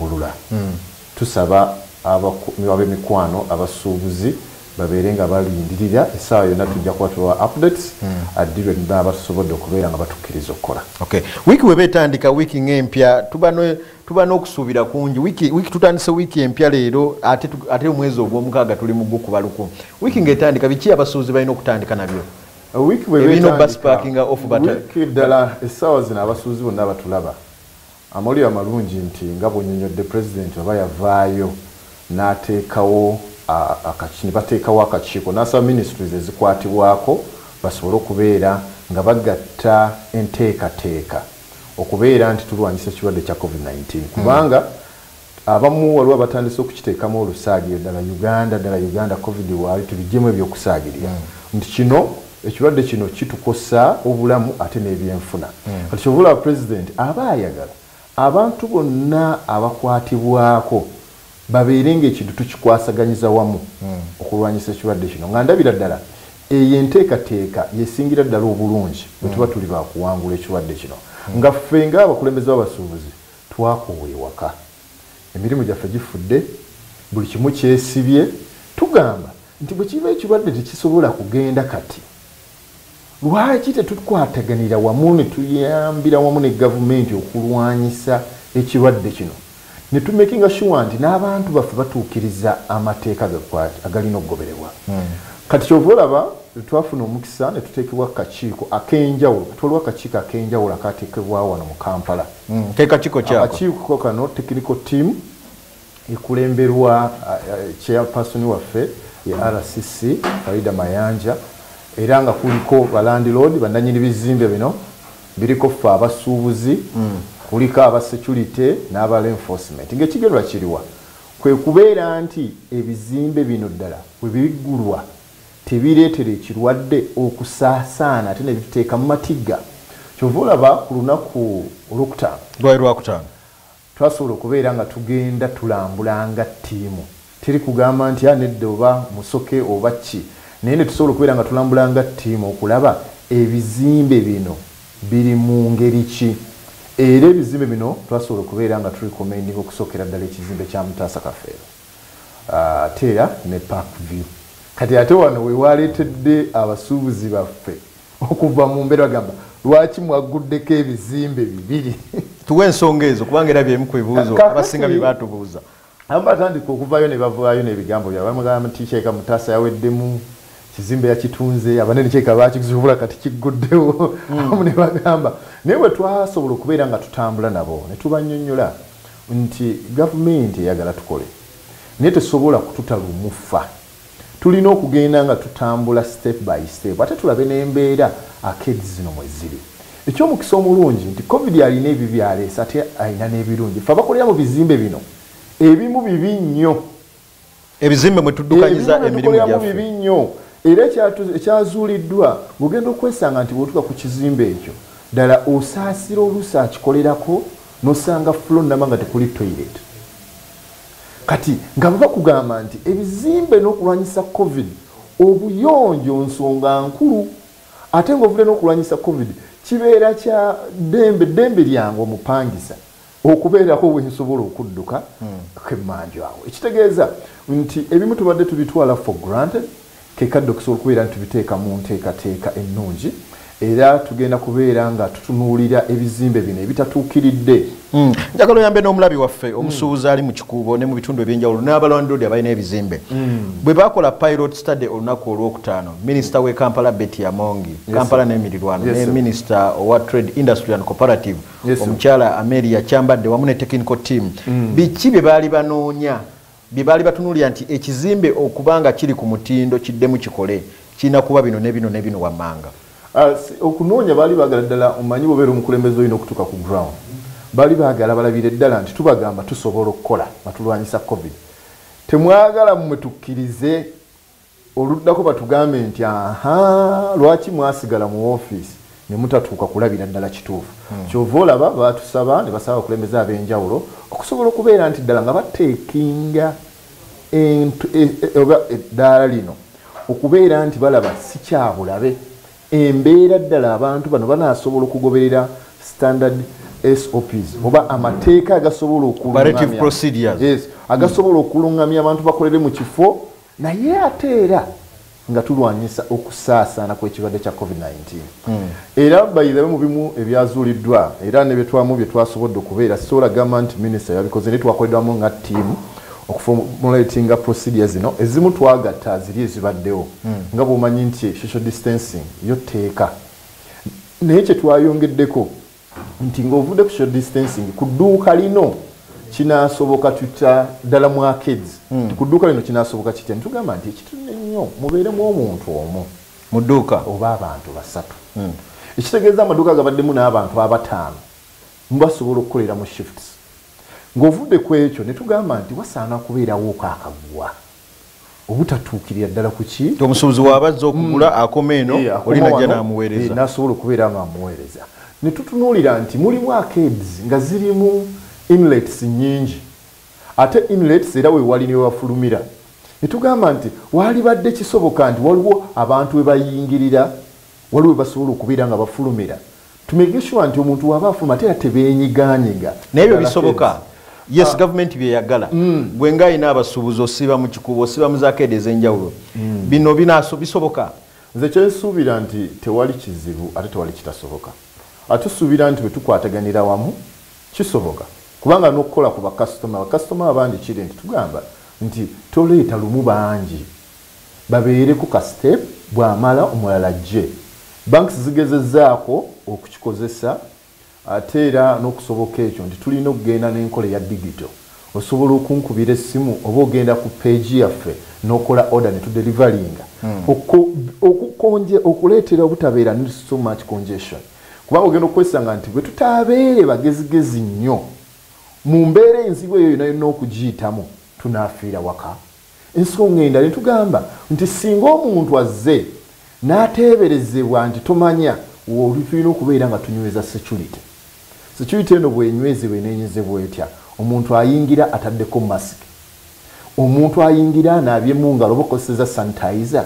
Bulula. Tusaba ab'emikwano, abasuubuzi babeere nga balindirira essaawa yonna tujja kuba tubawa updates ddi lwe baba basobodde okubeera nga batukkiriza okukola. Okay. Wiiki bw'eba etandika, wiiki ng'empya tuba n'okusuubira kungi. Wiiki tutandise wiiki empya leero ate omwezi ogwomukaaga tuli mu gukuba luku. Wiiki ng'etandika biki abasuubuzi balina okutandika nabyo? Wiiki bw'eba etandika, wiiki ddala essaawa zino abasuubuzi bonna batulaba. Amawulire amalungi nti nga bw'onnyonnyodde, Pulezidenti bw'aba yavaayo n'ateekawo akaki ne bateekawo akakiiko n'asaba Ministries ezikwatibwako basobole okubeera nga bagatta enteekateeka okubeera nti tulwanyisa ekirwadde kya Covid nineteen kubanga Abamu waliwo abatandise okukiteekamu olusaagiriro ddala Uganda ddala Uganda covid waali tubijjemu ebyokusaagirira mm. nti kino ekirwadde kino kitukosa obulamu ate n'ebyenfuna mm. kati kyova olaba pulezidenti aba ayagala abantu bonna abakwatibwako babeere ngaekintu tukikwasaganyiza wamu mm. okulwanyisa ekirwadde kino nga ndabira ddala eyo enteekateeka yesingira ddala obulungi bwetuba mm. tuli bakuwangula ekirwadde kino mm. nga ffe ngaabakulembeze babasuubuzi Twakoowa ewaka. Emirimu gyaffe gifudde. Buli kimu kyesibye. Tugamba nti bwe kiba ekirwadde tekisobola kugenda kati, lwaki tetukwataganira wamu ne tuyambira wamu ne Gavumenti okulwanyisa ekirwadde kino ne tumekinga shuwa nti n'abantu baffe batuukiriza amateeka agalina okugobererwa. Kati ky'ova olaba lwe twafuna omukisa ne tuteekebwa ku kakiiko ak'enjawulo. Kati waliwo akakiiko ak'enjawulo akaateekebwawo wano mu Kampala. mm, kekakiko kyako akakiiko kano technical team ekulemberwa chairperson waffe ye rcc farida mayanja era nga kuliko balandilord bananyini bizimbe bino biriko ffe abasuubuzi mm. kuliko aba security n'aba enforcement ngaekigendwa kiriwa kwe kubeera nti ebizimbe bino ddala webiggulwa tebireetera ekirwadde okusaasaana ate ne bituteeka mu matigga. Kyova olaba ku lunaku Olwokutaano. Lwali Lwakutaano. Twasobola okubeera nga tugenda tulambula nga ttiimu. Teri kugamba nti, ah nedda oba Musoke oba kki. Naye ne tusobola okubeera nga tulambula nga ttiimu okulaba ebizimbe bino biri mu ngeri ki. Era ebizimbe bino twasobola okubeera nga tu recommendinga okusookera ddala ekizimbe kya Mutaasa Kafeero. ate era ne park view kati ate wano wewaletedde abasuubuzi baffe okuva mu mbeera gamba lwaki mwagguddeko ebizimbe bibiri tuwe ensonga ezo kubanga era byemu ku bibuuzo abasinga bye batubuuza abamu batandika okuvaayo ne bavaayo n'ebigambo byabwe bamugamba nti kyeka mutaasa yaweddemu kizimbe yakitunze abanene kyeka bakizubula kati kigguddewo mm. abamu ne bagamba naye bwe twasobola okubeera nga tutambula nabo ne tubanyonyola nti gavumenti eyagala tukole naye tesobola kututa lumufa tulina okugenda nga tutambula step by step ate tulabe nembeera akedi zino mweziri ekyomukisa omulungi nti covid alina ebyo byaleesa ate alina n'ebirungi fe abakolera mu bizimbe bino ebimu bibi nnyo ebizimbe mwe tuddukanyiza emirimu gyaffe bibi nnyo era ekyazuuliddwa ng'ogenda okwesanga nti bw'otuuka ku kizimbe ekyo ddala osaasira oluusi akikolerako n'osanga fulo nnama nga tekuli toilet kati nga bwe bakugamba nti ebizimbe n'okulwanyisa covid obuyonjo nsonga nkulu ate ng'ovudde n'okulwanyisa covid kibeera kya ddembe ddembe lyange omupangisa okubeerako we nsobola okudduka kemmanju awo ekitegeeza nti ebimu tubadde tubitwala for granted ke kadde okusobola okubeera nti tubiteeka mu nteekateeka ennungi era tugenda kubeera nga tutunuulira ebizimbe bino ebitatuukiridde hmm. njagala oyambe n'omulabi waffe hmm. omusuubuzi ali mu kikuubo ne mu bitundu ebyenjawulo n'abalandoodi abalina ebizimbe hmm. bwe bakola pilot study olunaku olwokutaano minisita w'e kampala betty amongi kampala n'emirirwano ne minisita owa trade industry and cooperative omukyala ameria kyambadde wamu ne technical team mm. biki bye baali banoonya bye baali batunuulira nti ekizimbe okuba nga kiri ku mutindo kiddemu kikole kirina kuba bino ne bino ne bino wammanga ah, okunoonya baali baagala ddala omanyi bobeera omukulembeze olina okutuuka ku ground baali baagala balabire ddala nti tubagamba tusobola okukola nga tulwanyisa covid temwagala mmwe tukkirize oluddako batugambe nti ahaa lwaki mwasigala mu office nemutatuuka kulabira ddala kituufu hmm. kyova olaba batusaba ne basaba abakulembeze ab'enjawulo okusobola okubeera nti ddala nga bateekinga e, e, oba eddaala lino okubeera nti balaba sikyabulabe embeera ddala abantu bano banasobola okugoberera standard SOPs oba amateeka agasobola okulungamya agasobola okulungamya abantu bakolere mu kifo naye ate era nga tulwanyisa okusaasaana kw'ekirwadde kya covid-19 hmm. era bayirabe mu bimu ebyazuuliddwa era ne byetwamu bye twasobodde okubeera sola gamba nti minisita yabikoze naye twakoledwamu nga ttiimu okufomulatinga procedure zino ezimu twagatta ziri ezibaddewo hmm. nga bwomanyi nti social distancing yo tteeka naye kye twayongeddeko nti ng'ovudde ku social distancing ku dduuka lino kinasoboka tutya ddala mu arcades hmm. ku dduuka lino kinasoboka kitya nitugamba nti ekitune nnyo mubeeremu omuntu omu mu dduuka oba abantu basatu hmm. ekitegeeza amaduuka gabaddemu n'abantu abataano mubasobola okukolera mu shifts ng'ovudde ku ekyo ne tugamba nti wasaana kubeerawooko akaggwa obutatuukirira ddala kuki nti omusuubuzi waaba azza okugula mm. akoma eno eh, oli najja n'amuweereza eh, n'asobola okubeera nga amuweereza ne tutunuulira nti mulimu arcades nga zirimu inlets nnyingi ate inlets era wewali ne wewafulumira ne tugamba nti waalibadde kisoboka nti waliwo abantu we bayingirira waliwo we basobola okubeera nga bafulumira tumegeshwa nti omuntu waba afuluma ate era tebenyiganyiga naye byo bisoboka yes ah. gavumenti byeyagala mm. gwe nga alina abasuubuzi osiba mu kikuubo osiba mu zakeede ez'enjawulo mm. bino binaaso bisoboka nze kyensuubira nti tewali kizibu ate tewali kitasoboka atusuubira nti bwe tukwataganira wamu kisoboka kubanga n'okukola ku bakasitoma bakasitoma abangi kiri nti tugamba nti toleeta lumu bangi babeereko ka step bwamala omulala ajje. Banks zigezezaako okukikozesa ate era nokusoboka ekyo nti tulina okugenda nenkola eya digito osobola okunkubira essimu oba ogenda ku page yaffe nokola order ne tudelivalinga hmm. okukonje okuleetera obutabeera ne so much congestion kubanga ogenda okwesanga nti bwe tutabeere bagezigezi nnyo mu mbeera enzibu eyo yona yonna okugiyitamu tunafiira waka Ensonga endala etugamba nti ssinga omuntu azze n'ateeberezebwa nti tomanya w'oli tulina okubeera nga tunyweza securite. Securite eno bw'enywezebwa eneenyezebwa etya? Omuntu ayingira ataddeko masiki, omuntu ayingira anaabye mu ngalo oba okozesezza sanitizer,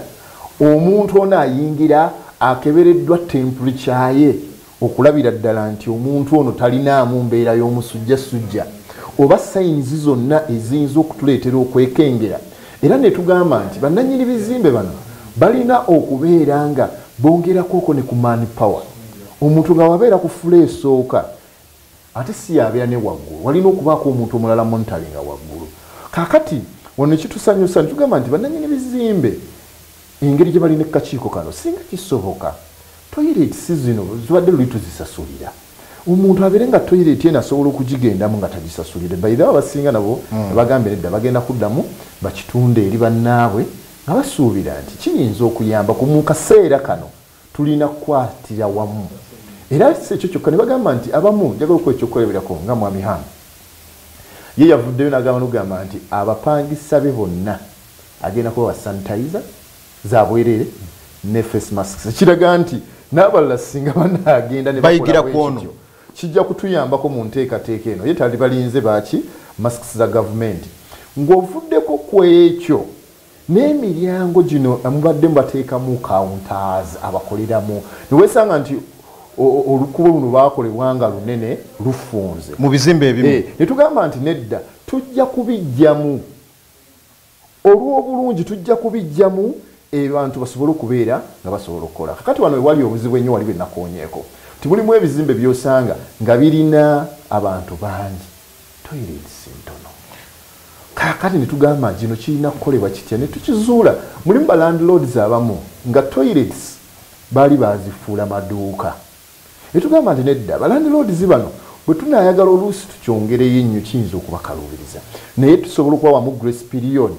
omuntu ono ayingira akebereddwa temperature ye, okulabira ddala nti omuntu ono talinaamu mbeera y'omusujja sujja oba sayinizi zonna eziyinza okutuleetera okwekengera era ne tugamba nti bannannyini bizimbe bano balina okubeera nga bongerakwoko ne ku man power omuntu nga wabeera ku fula esooka ate si yabeera ne waggulu walina okubaako omuntu omulala montalinga waggulu kakati wano nekitusanyusa nitugamba nti bannannyini bizimbe engeri gye bali ne kakiiko kano singa kisoboka toyireeti si zino zibadde luli tuzisasulira omuntu abeere nga toyireeti eno asobola okugigendamu nga tagisasulire baidha abasinga nabo hmm. bagambye nedda bagenda kuddamu bakitunde eri bannaabwe nga basuubira nti kiyinza okuyamba ku mu kaseera kano tulina kukwatira wamu era si ekyo kyokka ne bagamba nti abamu njagala okuwa ekyokukoleberako nga mwami ham ye yavuddeyo n'agamba nogamba nti abapangisa be bonna agenda kuba wa sanitizer zabwerere ne face masks ekiraga nti n'abalala singa banaagenda nebayigira kwono kijja kutuyambako mu nteekateeka eno ye tali balinze baaki masks za gavumenti ng'ovuddeko ku ekyo Naye miryango gino mubadde mubateekamu counters abakoleramu newesanga nti olukubo luno lwakolebwa nga lunene lufunze mu bizimbe ebimu eh, ne tugamba nti nedda tujja kubijjamu olw'obulungi tujja kubijjamu abantu basobole okubeera nga basobola okukola kakati wano wewali obuzibu ennyo wali benakonyeeko nti mulimu ebizimbe byosanga nga birina abantu bangi toilets ntono kakati netugamba kino kirina kukolebwa kitya netukizuula mulimu ba landlords abamu nga toilets baali bazifuula maduuka netugamba nti nedda ba landlords bano bwetunayagala oluusi tukyongereyo ennyo kiyinza okubakaluubiriza naye tusobola okubawamu grace period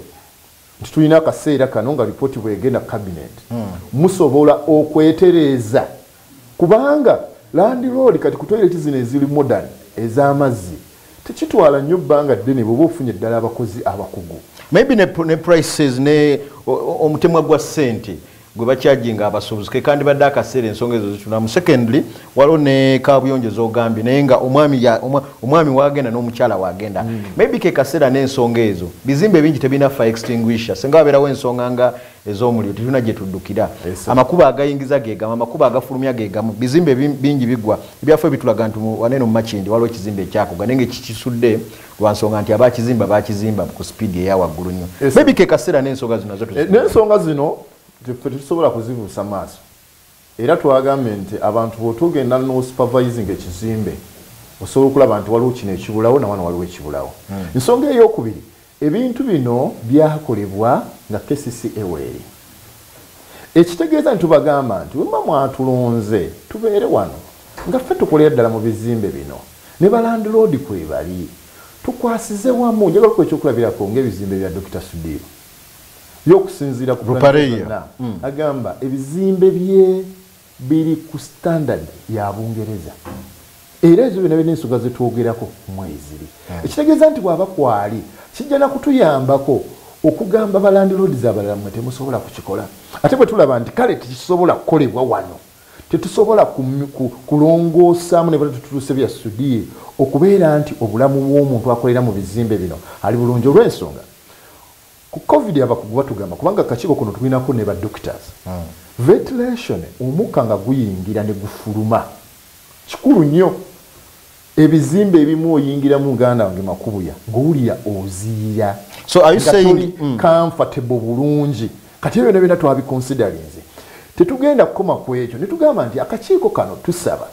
nti tulina akaseera kano nga lipooti bwegenda kabineeti hmm. musobola okwetereeza kubanga landiroodi kati kutoireti zino eziri modern ez'amazzi tekitwala nnyo bbanga ddene bweoba ofunye ddala abakozi abakugu maybe ne, ne prices ne omutemwa gwa ssente gwe bakyajinga abasuubuzi kekandibadde akaseera ensonga ezo zitunamu secondly waliwo ne kabuyonjo zogambye naye nga omwami wagenda n'omukyala wagenda mm. maybe kekaseera n'ensonga ezo bizimba ebingi tebirina fa extinguisher singa wabeerawo ensonga nga ez'omuliro tetulina gye tuddukira amakuba agayingiza gegamu amakuba agafulumya gegamu bizimba bingi bigwa ebyaffe bitulaga nti waneno mumakindi waliwo ekizimba ekyakuga naye nga ekikisudde lwansonga nti abakizimba bakizimba ku speed eya waggulu nnyo maybe ke kaseera n'ensonga zino nazo eh, n'ensonga zino tetusobola kuzibuusa maaso era twagambye nti abantu bwotugenda n'osupervising ekizimbe osobola okulaba nti waliwo kino ekibulawo nawano waliwo ekibulawo hmm. ensonga hmm. eyokubiri ebintu bino byakolebwa nga kcca weeri ekitegeeza nti tubagamba nti wemba mwatulonze tubeere wano nga ffe tukolera ddala mu bizimbe bino Ne ba landlord kwebali. Tukwasize wamu, njagala okuwa ekyokulabirako ng'ebizimbe bya Dokita Sudhir ye okusinziira ku Rupareya agamba ebizimbe bye biri ku standard ya Bungereza era ezo byonna birina ensonga ze twogerako mweziri ekitegeeza nti bw'aba kwali kijja na kutuyambako okugamba ba landlords abalala mmwe temusobola kukikola ate bwe tulaba nti kale tekisobola kukolebwa wano. Tetusobola kulongoosaamu ne bwe tutuuse bya sudiye okubeera nti obulamu bw'omuntu akolera mu bizimbe bino ali bulungi olw'ensonga ku covid abakugu batugamba kubanga akakiiko kuno tulinako ne ba doctors hmm. ventilation omukka nga guyingira ne gufuluma kikulu nnyo Ebizimbe ebimu oyingira mu ganda wange makubuya ngowulira oziyira so are you saying mm. comfortable bulungi kati ebyo nabyo natwabi considerinze tetugenda kukoma ku ekyo ne tugamba nti akakiiko kano tusaba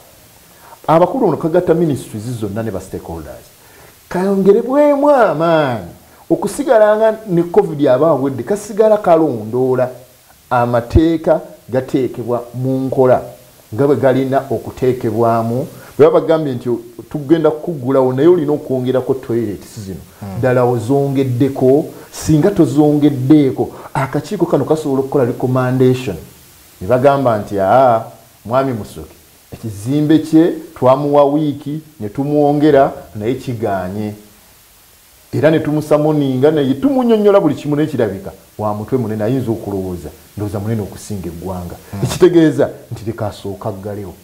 abakulu ono kagatta ministries zonna ne ba stakeholders kayongerebwemu amaanyi okusigala nga ne covid aba awedde kasigala kalondoola Amateeka gateekebwa mu nkola nga bwe galina okuteekebwamu. Bwe baba bagambye nti tugenda kukuggulawo naye olina okwongerako toyireti zino, hmm. ddala ozongeddeko? Singa tozongeddeeko, akakiiko kano kasobola okukola recommendation ne bagamba nti aa mwami Musoke ekizimbe kye twamuwa wiiki ne tumwongera naye kiganye. era netumusamoninga naye tumunyonyola buli kimu naye kirabika wa mutwe munene ayinza okulowooza ndowooza munene okusinga eggwanga hmm. ekitegeeza nti leka asooka aggalewo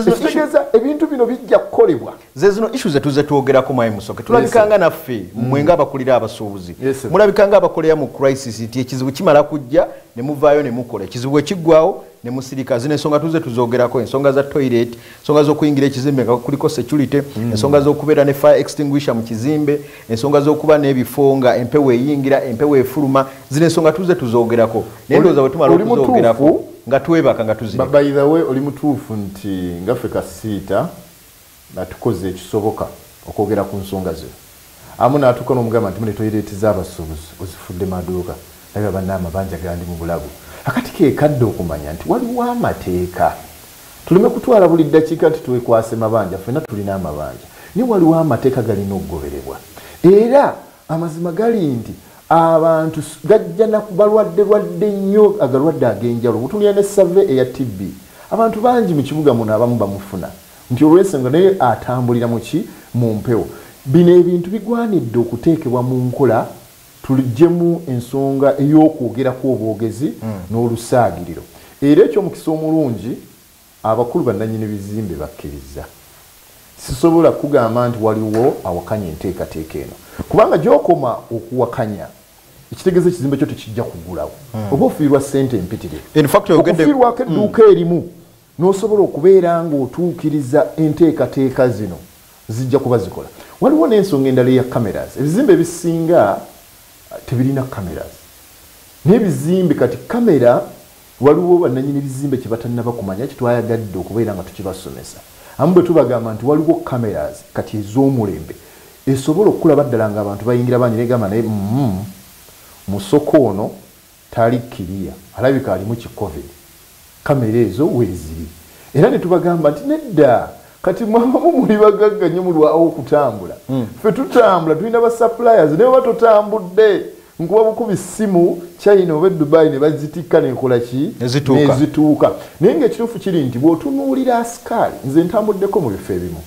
ekitegeeza ebintu bino bijja kukolebwa zezino issu zetuze twogerako mwayi musoke tulabikanga naffe hmm. mwe nga abakulira abasuubuzi mulabikanga abakolera mu crisis nti ekizibu kimala kujja ne muvaayo ne mukola ekizibu ekiggwawo ne musirika zino ensonga tuze tuzogerako ensonga za toilet ensonga z'okuyingira ekizimbe nga kuliko security mm. ensonga z'okubeera ne fire extinguisher mu kizimbe ensonga z'okuba n'ebifo nga empewo eyingira empewo efuluma zino ensonga tuze tuzoogerako naye ndowooza bwe tumala okuzoogerako nga twebaka nga tuzibabayidawe oli mutuufu nti ngaffe kasiita nga tukoze ekisoboka okwogera ku nsonga zino amu natuuka nomugamba nti mune toilet zabasubuzi ozifudde maduuka naye abanna amabanja gandi mu bulago akati kekadde okumanya nti waliwo amateeka tuleme kutwala buli ddakiika nti twekwase mabanja fena tulina amabanja naye waliwo amateeka galina okugoberebwa era amazima gali nti abantu gajja nakubalwadde lwadde nnyo agalwadde agenjalo butulina ne save eya tibbi abantu bangi mu kibuga muno abamu bamufuna nti olwensonga naye atambulira muki mu mpewo bino ebintu bigwanidde okuteekebwa mu nkola tuligyemu ensonga ey'okwogerako obwogezi mm. n'olusaagiriro era ekyomukisa omulungi abakulu bannanyini bizimbe bakkiriza sisobola kugamba nti waliwo awakanya enteekateeka eno kubanga gyokoma okuwakanya ekitegeeza ekizimbe kyo tekijja kugulawo hmm. oba ofiirwa sente empitire okufiirwako edduuka hmm. erimu N'osobola okubeera ng'otuukiriza enteekateeka zino, zijja kuba zikola. Waliwo n'ensonga endala eya cameras. Ebizimbe ebisinga tebirina cameras. N'ebizimbe kati camera waliwo bannanyini bizimbe kye batannaba kumanya kye twayagadde okubeera nga tukibasomesa. Abamu bwe tubagamba nti waliwo cameras kati ez'omulembe esobola okukulaba ddala ng'abantu bayingira bangi n'egamba naye, umm, musoko ono. Tali clear alabika alimu ki covid camera ezo weziri era netubagamba nti nedda kati mwabamu muli bagagga nyo mulwawo okutambula mm. fe tutambula tulina ba suppliers naye oba totambudde nkuba bukubi simu china oba edubai nebazitikka nenkola ki nezituuka naye nga ekituufu kiri nti bwotunuulira asikaali nze ntambuddeko mu bifo ebimu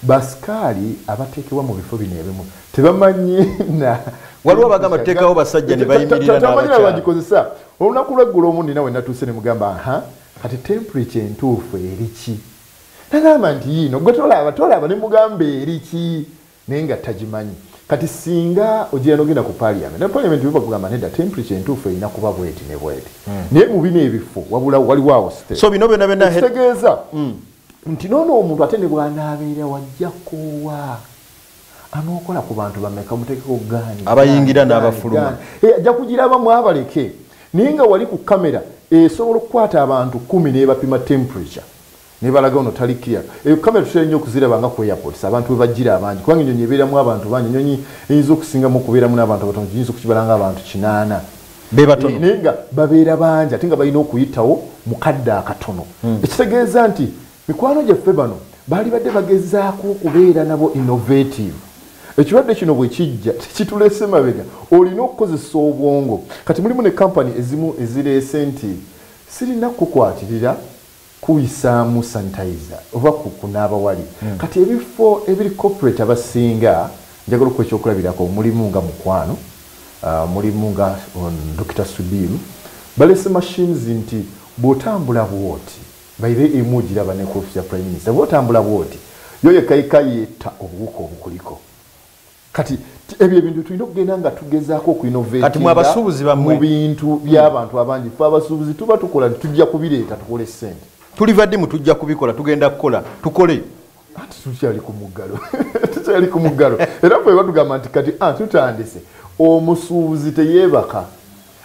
Basikaali abateekebwa mu bifo bino ebimu tebamanyi na waliwo abagamba tuteekawo basajja ne bayimirira n'abakyala tamanyi bagikozesa olunaku lw'eggulo omu nina we natuuse ne mugamba aha kati temperature entuufu eri ki nagamba nti yiino gwe tolaba tolaba ne mugamba eri ki naye nga tagimanyi kati singa ogira nogenda ku paliament ne paliament bibakugamba neda temperature entuufu erina kuba bweti ne bweti hmm. naye mu bino ebifo wabulawo waliwo awo site so bino byona byona kitegeeza hmm. nti noono omuntu ate ne bwanaabeera wajja koowa anookola ku bantu bameka mutekeko gaani abayingira n'abafuluma eh, ajja kugiraba mwabaleke naye nga wali ku kamera esobola okukwata abantu kumi nebapima temperature nebalaga ono tali clear eyo kamera tutera nnyo okuziraba nga ku airports abantu webajjira abangi kubanga enyonyi ebeeramu abantu bangi enyonyi eyinza okusingamu okubeeramu n'abantu abatono giyinza okukibalanga abantu kinaana bebatono naye nga babeera bangi ate nga balina okuyitawo mukadde akatono hmm. ekitegeeza nti mikwano gyaffe bano baali badde bagezaako okubeera nabo innovative ekirwadde kino bwe kijja tekituleese mabega olina okukozesa obwongo kati mulimu ne kampani ezimu ezireese nti sirina kukukwatirira kuyisaamu sanitizer oba ku kunaaba wali kati ebifo ebiri corporate abasinga njagala okuwa ekyokulabirako mulimu nga mukwano mulimu nga on Dokita Sudiru balese machines nti bwotambula bwoti by the way emu ogiraba ne ku office ya prime minister bwotambula bwoti yo yekka yekka yetta obuwuka obukuliko kati ebyo ebintu tulina okugenda nga tugezaako okuinovatinga mu bintu by'abantu abangi fe abasuubuzi tuba tukola nti tujja kubireeta tukole ssente tuliva ddi mu tujja kubikola tugenda kukola tukole anti tukyali ku muggalo tukyali ku muggalo era fe batugamba nti kati ah, tutandise omusuubuzi teyeebaka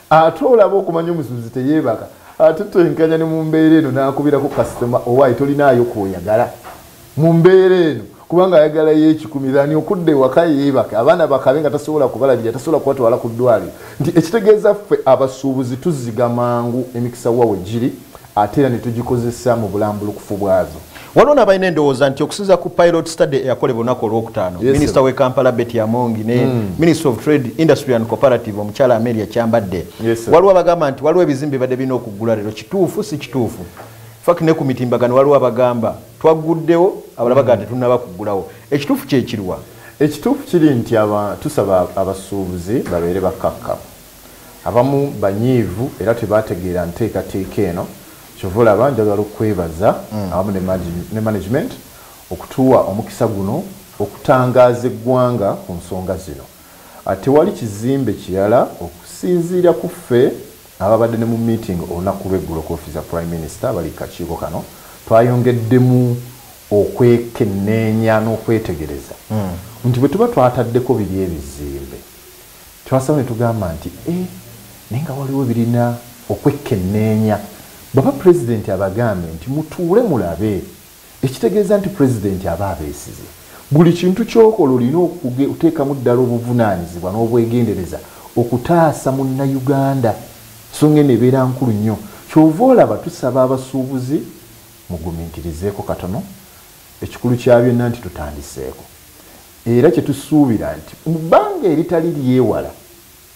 ate olaba okumanya omusuubuzi teyeebaka ate twenkanya ne mu mbeera eno n'akubirako kasitoma owaayi tolinaayo kwoyagala mu mbeera eno kubanga ayagala yekikumi thani okudda ewaka yeebake abaana bakabe nga tasobola kubalabirira tasobola kubatwala ku ddwaliro nti ekitegeeza ffe abasuubuzi tuzziga mangu emikisa wawe giri ate era ne tugikozesa mu bulambulukufu bwazo. Waliwo n'abalina endowooza nti okusinza ku pilot study eyakolebwa olunaku olwokutaano yes, minisita w'e Kampala Betty Amongi ne mm. minister of trade industry and cooperative omukyala Amelia Kyambadde yes, waliwo abagamba nti waliwo ebizimbe ebadde birina okuggula leero kituufu si kituufu fak ne ku mitimbagano waliwo abagamba twagguddewo abala bagaa hmm. tetunaba kuggulawo ekituufu kyekirwa ekituufu kiri nti tusaba abasuubuzi babeere bakakkamu Abamu banyiivu era tebaategeera nteekateeka eno kyova olaba njagala okwebaza awamu ne management okutuwa omukisa guno okutangaaza eggwanga ku nsonga zino. Tewali kizimbe kirala okusinziira ku ffe ababadde ne mu meeting olunaku lw'eggulo ku office za Prime Minister abali ku kakiiko kano twayongeddemu okwekenneenya n'okwetegereza nti bwe tuba twataddeko biri ebizimbe, Twasalawo ne tugamba nti, Ee, naye nga waliwo ebirina okwekkenneenya. Bw'aba Pulezidenti abagambye nti, Mutuule mulabe, ekitegeeza nti Pulezidenti aba abeesize. Buli kintu ky'okola olina okuteekamu ddala obuvunaanyizibwa n'obwegendereza okutaasa Munnayuganda. Nsonga eno ebeera nkulu nnyo. Ky'ova olaba tusaba abasuubuzi mugumiikirizeeko katono. Ekikulu kya byonna nti tutandiseeko. era kye tusuubira nti mu bbanga eritali lyewala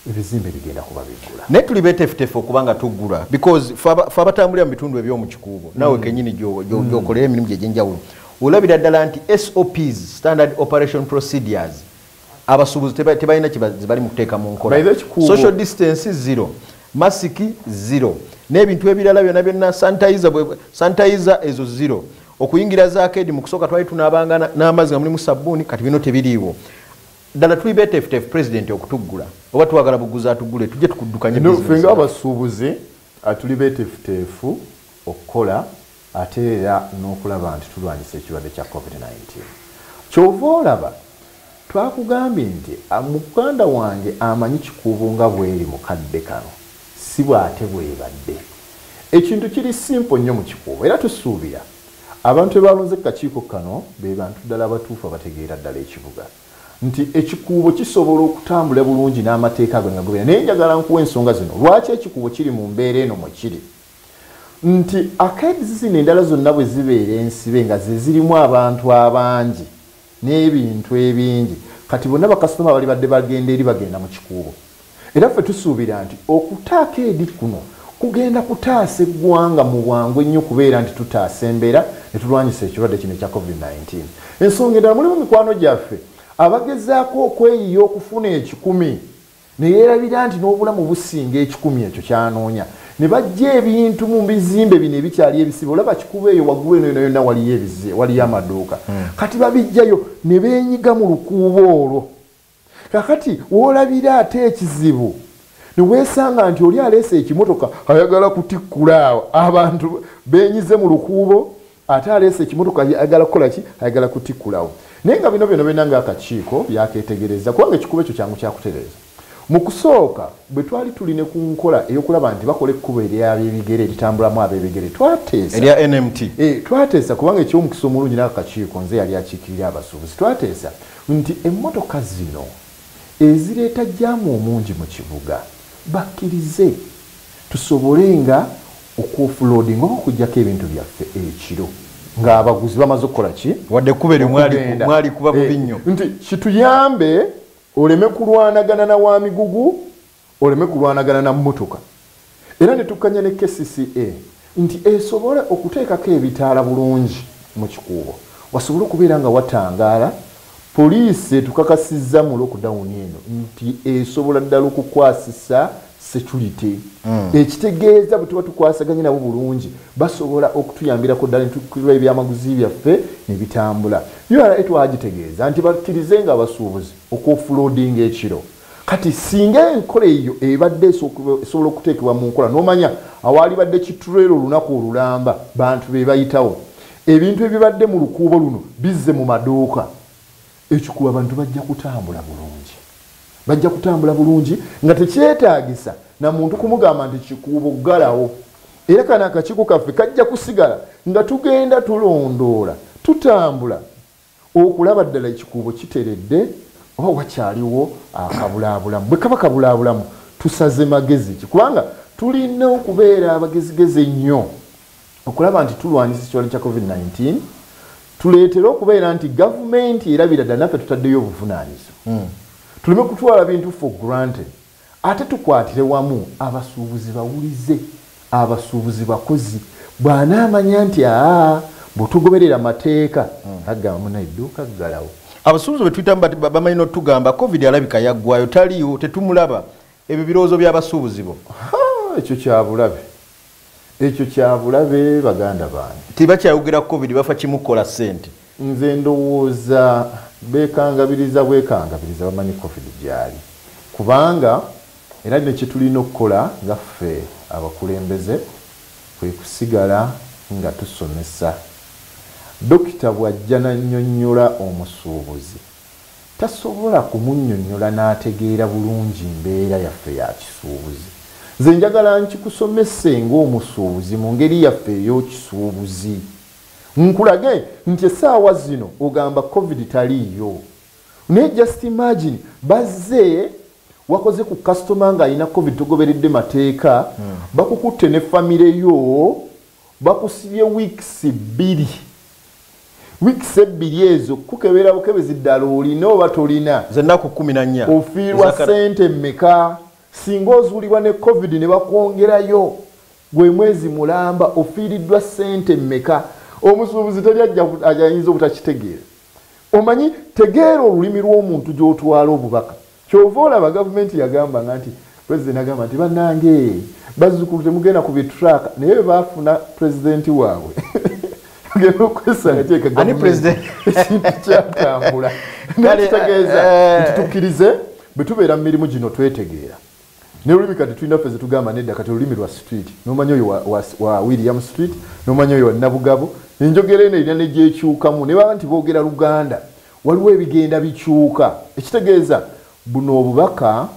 ebizimbe bigenda kuba biggula naye tuli betefutefu okuba nga tuggula because fe abatambulira mu bitundu ebyomu kikuubo nawe mm. kenyini mm. gyokolera emirimu gye gyenjawulo olabira ddala nti sops standard operation procedures abasuubuzi tebalina kyebali mu kuteeka mu nkola social distance zero masiki zero n'ebintu ebirala byona byonna sanitizer ezo zero okuyingira zakedi mukusooka twali tunabanga n'amazzi nga mulimu sabbuuni kati bino tebiriiwo ddala tuli betefutefu pulezidenti okutuggula oba twagala buguzi atuggule tujje tukuddukanyefe nga abasuubuzi ah, tuli betefutefu okukola ate era n'okulaba nti tulwanyisa ekirwadde kya covid-19 kyova olaba twakugambye nti ah, muganda wange amanyi kikuubo nga bweri mukadde kano Ssebo ate bwebadde ekintu kiri simple nnyo mukikuubo era tusuubira abantu bebalonze kukakiiko kano bebantu ddala abatuufu abategeera ddala ekibuga nti ekikuubo kisobola okutambula bulungi n'amateeka ago negagoberera naye njagala nkuwa ensonga zino lwaki ekikuubo kiri mu mbeera eno mwekiri nti akedzi zino endala zonna bwezibeera ensibe nga zezirimu abantu abangi n'ebintu ebingi kati bonna bakasitoma balibadde bagenda eri bagenda mu kikuubo era ffe tusuubira nti okutaako edi kuno kugenda kutaasa eggwanga mu bwangu ennyo kubeera nti tutaasa embeera ne tulwanyisa ekirwadde kino ekya covid-19 ensonga endala mulimu mikwano gyaffe abagezaako okweyiya okufuna ekikumi ne yeerabira nti n'obulamu businga ekikumi ekyo kyanoonya ne bajja ebintu mu bizimbe bino ebikyali ebisibe olaba kikuba eyo waggulu eno yona yonna waliyo ebize waliyo hmm. amaduuka hmm. kati babijjayo ne beenyiga mu lukuuba olwo kakati woolabira ate ekizibu ne weesanga nti oli aleese ekimotoka ayagala kutikkula awo abantu beenyize mu lukuubo ate aleese ekimotoka ayagala kukola ki ayagala kutikulawo naye nga bino byona byona nga akakiiko byaketegereza kubanga ekikuba ekyo kyangu kyakutereeza mu kusooka bwe twali tuli ne ku nkola ey'okulaba nti bakola ekkubo eryabebigere eritambulamu abebigere twateesaerya nmt eh, twateesa kubanga ekyomukisa omulungi nako kakiiko nze yali akiikirira abasuubuzi twateesa nti emmotoka zino ezireeta jaamu omungi mu kibuga bakkirize tusobole nga okwofuloodinga oba okujjako ebintu byaffe ekiro ng'abaguzi bamaze okukola ki wadde ekkuba eryo mwalikuba bubi eh, nnyo nti kituyambe oleme kulwanagana na wa migugu oleme kulwanagana na mmotoka era ne tukkanya ne kcca nti esobole okuteekako ebitaala bulungi mu kikuubo wasobole okubeera nga watangaala, poliisi etukakasizza mu lockdown eno nti esobola ddala okukwasisa securite mm. ekitegeeza bwe tuba tukwasaganye nabo bulungi basobola okutuyambirako ddala netukirwa ebyamaguzi byaffe ne bitambula ura etwagitegeeza nti bakkirize nga abasuubuzi okuofuloodinga ekiro kati singa enkola eyo ebadde esobola okuteekebwa mu nkola n'omanya awaalibadde kiturero olunaku olulamba bantu be bayitawo ebintu ebibadde mu lukuubo luno bizze mu maduuka ekikuba abantu bajja kutambula bulungi bajja kutambula bulungi nga tekyetaagisa na muntu kumugamba nti kikuubo galawo era kano akakiiko kaffe kajja kusigala nga tugenda tulondoola tutambula okulaba ddala ekikuubo kiteredde oba wakyaliwo akabulaabulamu. Bwe kaba kabulaabulamu tusaze magezi ki? Kubanga tulina okubeera abagezigezi ennyo okulaba nti tulwanyisa ekirwalo kya covid 19 tuleetere okubeera nti gavumenti erabira ddala naffe tutaddeyo obuvunaanyizibwa hmm. tuleme kutwala bintu for granted. Ate tukwatire wamu abasuubuzi bawulize, abasuubuzi bakozi. Bw'anaamanya nti aa, mbu tugoberera mateeka, agamba munaye dduuka ggalawo. Abasuubuzi bwe tuyitamu bat bamanyi n'otugamba Covid alabika yaggwaayo, taliiwo, tetumulaba. Ebyo birowoozo bya basuubuzi bo. Ha! Ekyo kya bulabe. ekyo kyabulabe baganda bange tibakyayogera ku covid bafa kimu kukola sente nze ndowooza bekangabiriza bwekangabiriza bamanyi covid gyali kubanga era nekyetulina okukola nga ffe abakulembeze kwekusigala nga tusomesa dokita bwajja nanyonyola omusuubuzi tasobola kumunnyonnyola n'ategeera bulungi mbeera yaffe ya kisuubuzi. Nze njagala nkikusomese ng'omusuubuzi mu ngeri yaffe ey'okisuubuzi. Nkulage nti essaawa zino ogamba Covid taliiyo. Naye just imagine bazze wakoze ku customer ng'alina Covid togoberedde mateeka, bakukutte ne family yo, Bakusibye weeks bbiri. Weeks ebbiri ezo kukebera bukebezi ddala olina oba tolina. Z'ennaku kkumi na nnya. Ofiirwa ssente mmeka? Singa ozuulibwa ne Covid ne bakwongerayo gwe mwezi mulamba ofiiriddwa ssente mmeka? Omusuubuzi teri ajja ayinza obutakitegeera. omanyi tegeera olulimi lw'omuntu gy'otwala obubaka kyova olaba gavumenti yagambanga nti president agamba nti banange bazzukulu temugenda ku bitraaka naye bebafuna pulezidenti waabwe ogenda okwesanga kyekaekintu kyatambula nakitegeeza eh, nti tukkirize bwe tubeera mu mirimu gino twetegeera ne lulimi kati tulina ffe zetugamba nedda kati olulimi lwa street nomanya oyo wa, wa, wa william street nomanya oyo wanabugabo enjogera eno erina negyekyukamu ne baba nti boogera luganda waliwo ebigenda bikyuka ekitegeeza buno obubaka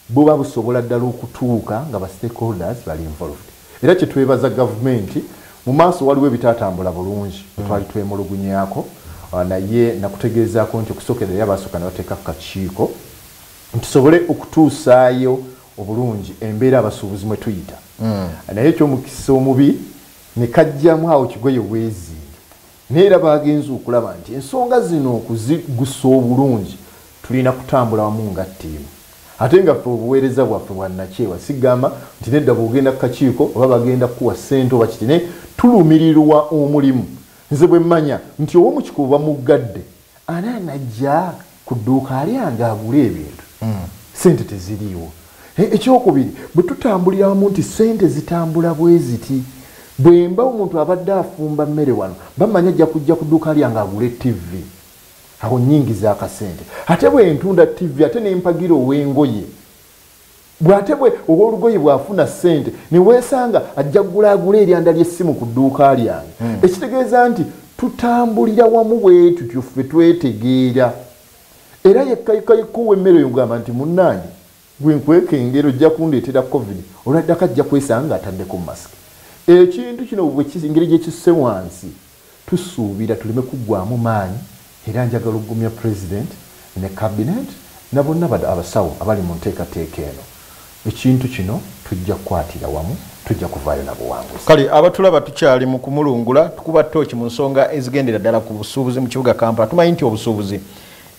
buba busobola ddala okutuuka nga ba stakeholders bali involved era kyetwebaza gavumenti mu maaso waliwo ebitaatambula bulungi mm. twali twemulugunyako ah, naye nakutegeezaako nti okusokerera basooka nebateeka ku kakiiko tusobole okutuusaayo obulungi embeera abasuubuzi mwe tuyita hmm. naye ekyomukisa omubi ne kajjamu awo kigoye weezinge naye era bagenza okulaba nti ensonga zino okuzigusa obulungi tulina kutambula wamu nga ttiimu ate nga ffe obuweereza bwaffe bwannakyewa sigamba nti nedda bwogenda kukakiiko oba bagenda kukuwa ssente oba kiti naye tulumirirwa omulimu nze bwe mmanya nti owomukika oba muggadde Ani anajja ku dduuka lyange agule ebintu? Hmm. Ssente teziriiwo. E, ekyokubiri, bwe tutambulira wamu nti ssente zitambula bwe ziti, bwe mba omuntu abadde afumba mmere wano, bamanya ajja kujja ku dduuka lyange agule ttivi. Awo nnyingiza akasente. Ate bwe ntunda ttivi ate ne mpagira ow'engoye. Bw'ate bwe ow'olugoye bw'afuna ssente ne weesanga ajja kugula agule eryanda ly'essimu ku dduuka lyange. Hmm. Ekitegeeza nti tutambulira wamu bwe tutyo ffe twetegeera. Era yekka yekka yekka ow'emmere oyo ogamba nti munnange gwe nkweka engeri ojja kundeetera covid olwaddako ajja kwesanga ataddeko masiki. Ekintu kino engeri gye kisse wansi. Tusuubira tuleme kuggwaamu maanyi era njagala okugumya Pulezidenti ne Kabineeti na bonna ba abasawo abali mu nteekateeka eno. Ekintu kino tujja kukwatira wamu, tujja kuvaayo na buwanguzi. Kale abatulaba tukyali mu kumulungula, tukuba ttooci mu nsonga ezigendera ddala ku busuubuzi mu kibuga Kampala. Tumanyi nti obusuubuzi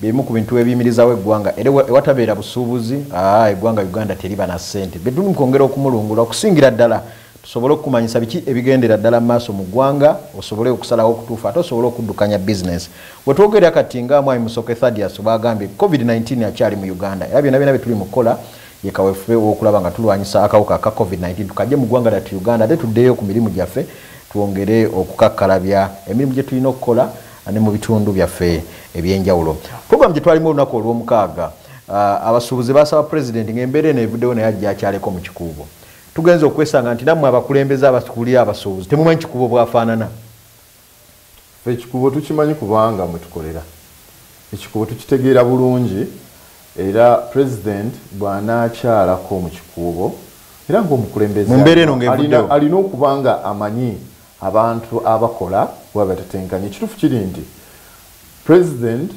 bye bimu ku bintu ebiyimirizaawo eggwanga era ewatabeera busuubuzi, aa eggwanga Uganda teriba na ssente. Bye tuli mu kwongera okumulungula okusingira ddala tusobole okukumanyisa biki ebigendera ddala mu maaso mu ggwanga osobole okusalawo okutuufu ate osobole okuddukanya bizinesi wetwogerera kati nga mwami musoke thadias baagambye covid-19 akyali mu uganda era byona byona bye tuli mu kukola ye kawefube wokulaba nga tulwanyisa akawuka aka covid-19 tukajje mu ggwanga lyatu uganda ate tuddeyo ku mirimu gyaffe twongere okukakkalabya emirimu gye tulina okukola ne mu bitundu byaffe ebyenjawulo programu gye twalimu olunaku olw'omukaaga ah, abasuubuzi basaba pulezidenti ng'embeera eno evuddewo naye ajja akyaleko mu kikuubo Tugenze okwesanga nti nammwe abakulembeze abatukulira abasuubuzi temumanyi kikubo bwafaanana. Ffe ekikubo tukimanyi kubanga mwe tukolera. Ekikubo tukitegeera bulungi era pulezidenti bw'anaakyalako mu kikuubo era ng'omukulembeze alina okuba nga amanyi abantu abakola bwe batetenkanya. Ekituufu kiri nti pulezidenti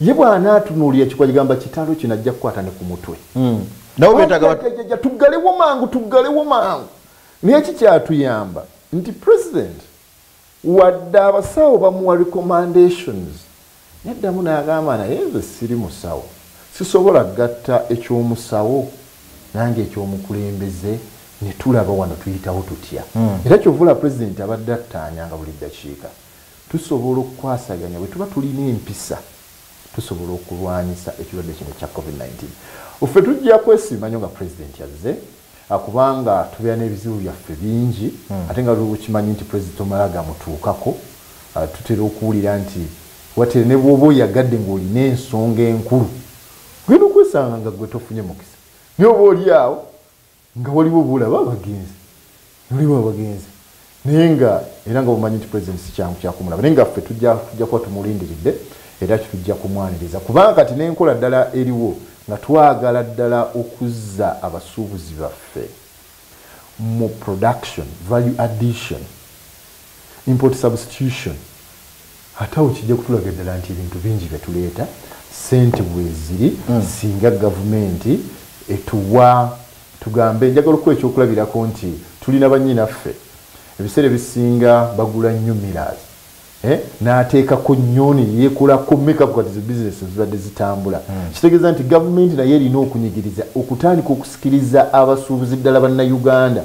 ye bwanaatunuulira ekikuba kigamba kitalo kino ajja kukwata ne ku mutwe hmm. tuggalewo mangu tuggalewo mangu naye kikyatuyamba nti president wadde abasawo bamuwa recommandations yaddamu naagamba naye nze siri musawo sisobola gatta ekyomusawo nange ekyomukulembeze netulaba wano tuyitawo tutya hmm. era kyovula president abadde attaanyanga buli ddakiika Tusobola okukwasaganya bwe tuba tulina empisa tusobola okulwanyisa ekirwadde kino ekya covid 19 ffe tujja kwesiima nnyo nga pulezidenti azze ah, kubanga tubeera n'ebizibu byaffe bingi hmm. ate nga lwokimanyi nti pulezidenti omala gamutuukako ah, tutera okuwulira nti watere ne bwoba oyagadde ng'olina ensonga enkulu genda okwesanga nga gwe tofunye mukisa naye oba oli awo nga waliwo bulaba abagenzi waliwo abagenzi naye nga era nga bumanyi nti president sikyangu kyakumulaba naye nga ffe tujja kuba tumulindiridde era kitujja kumwaniriza kubanga kati nenkola ddala eriwo nga twagala ddala okuzza abasuubuzi baffe mu production value addition Import substitution, ate awo kijja kutulaga ddala nti ebintu bingi bye tuleeta ssente weeziri hmm. singa gavumenti etuwa tugambe njagala okuwa ekyokulabirako nti tulina bannyinaffe ebiseera ebisinga bagula nnyo miras eh, n'ateekako nnyoni yeekolako mekapukatizi bizinesi ezibadde zitambula hmm. kitegeeza nti gavumenti naye erina okunyigiriza okutandika okusikiriza abasuubuzi ddala bannayuganda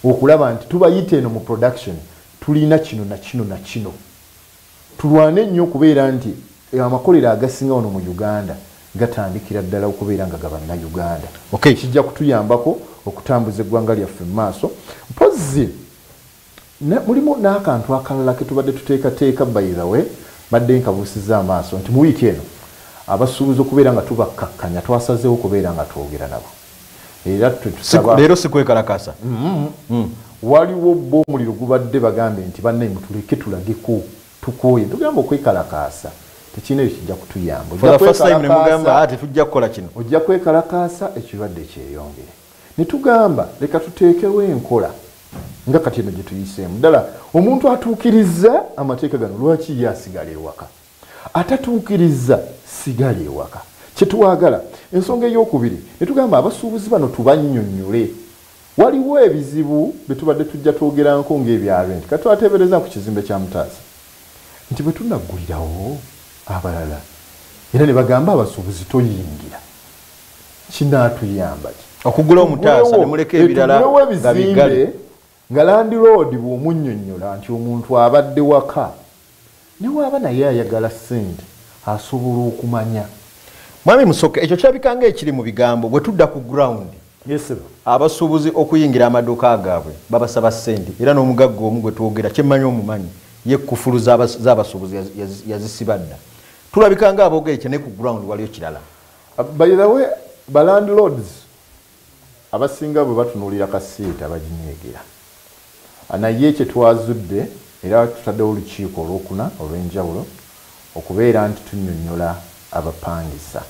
okulaba nti tubayita eno mu production tulina kino nakino nakino tulwane nnyo okubeera nti amakolero agasinga wano mu uganda gatandikira ddala okubeera nga gabannauganda okay. kijja kutuyambako okutambuza eggwanga lyaffe mu maaso mpozzi mulimu n'akantu akalala ketubadde tuteekateeka bayizawe badde nkabuusiza amaaso nti mu wiiki eno abasuubuzi okubeera nga tubakkakkanya twasazeewo okubeera nga twogera nabo era twetusaba leero sikwekalakasa mm-hmm. mm. waliwo bo omuliro gubadde bagambe nti banaye mutuleke tulageko tukooye tugamba okwekalakaasa tekirina ekyo kijja kutuyamba ah, tetujja kukola kino ojja kwekalakaasa ekirwadde kyeyongere ne tugamba leka tuteekewo enkola nga kati eno gye tuyiseemu ddala omuntu atuukiriza amateeka gano lwaki ye asigala ewaka Atatuukirizza sigala ewaka. Kye twagala. Ensonga ey'okubiri, ne tugamba abasuubuzi bano tubannyonnyole. Waliwo ebizibu bye tubadde tujja twogeranko ng'ebya renti. Kati twateebereza ku kizimbe kya Mutaasa nti bwe tunaggulirawo abalala era ne bagamba abasuubuzi toyingira, kinaatuyamba ki? Okuggulawo Mutaasa ne muleka ebirala nga biggale. Nga landiloodi bw'omunnyonnyola nti omuntu abadde waka ne bw'aba naye ayagala ssente asobola okumanya. Mwami Musoke, ekyo kirabika ng'ekiri mu bigambo, bwe tudda ku ground, abasuubuzi okuyingira amaduuka gaabwe babasaba ssente era n'omugagga omu gwe twogera kye mmanyi omumanyi ye kkufulu z'abasuubuzi yazisiba dda. Tulabika ng'aboogera ekyo naye ku ground waliyo kirala. By the way, ba landlords. Abasinga bwe batunuulira kasiita baginyiigira naye kye twazudde era tutaddewo olukiiko olwokuna olw'enjawulo okubeera nti tunnyonnyola abapangisa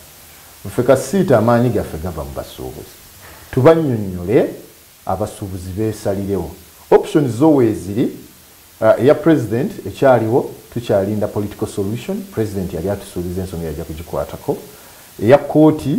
ffe kasiita amaanyi gaffe gava mu basuubuzi tubannyonnyole abasuubuzi beesalirewo. Options zo weeziri, eya president ekyaliwo tukyalinda political solution, president yali atusuubiza ensonga yajja kugikwatako, eya kkooti,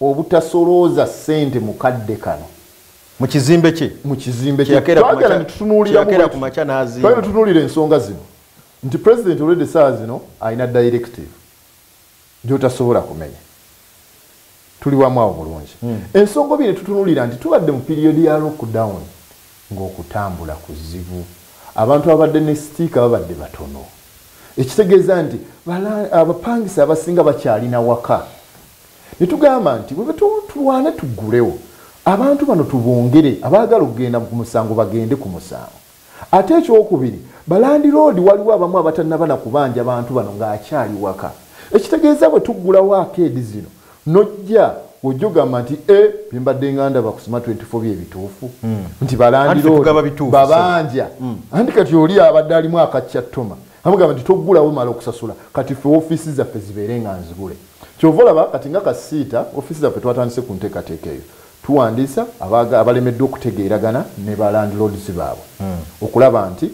obutasolooza ssente mu kadde kano mu kizimbe kye mu kizimbe kyeyagala netutunuuliramutunuulira ensonga zino nti pulezidenti olwedde essaawa zino alina directive gyotasobola kumenya tuli wamu awo bulungi hmm. ensonga obi netutunuulira nti tubadde mu piriyodi ya lockdown ng'okutambula kuzibu abantu abadde ne sitiika babadde batono ekitegeeza nti abapangisa abasinga bakyalina waka netugamba nti tulwane tugulewo abantu bano tubongere abaagala okugenda ku musango bagende ku musango ate ekyokubiri balandiroodi waliwo abamu abatanaba na kubanja bantu bano ng'akyali waka ekitegeeza bwe tuggulawo akeedi zino nojja ojja ogamba nti e eh, byembadde nga ndaba kusoma 24 byebituufu hmm. nti balandirobabanja hmm. anti kati oli abadde alimu akakyattoma amugamba nti toggulawo mala okusasula kati fe ofiisi zaffe zibeere nga nzibule Kyova olaba kati nga kasiita ofiisi zaffe twatandise ku nteekateeka eyo. Tuwandiisa abalemeddwa okutegeeragana ne ba landlords baabwe hmm. okulaba nti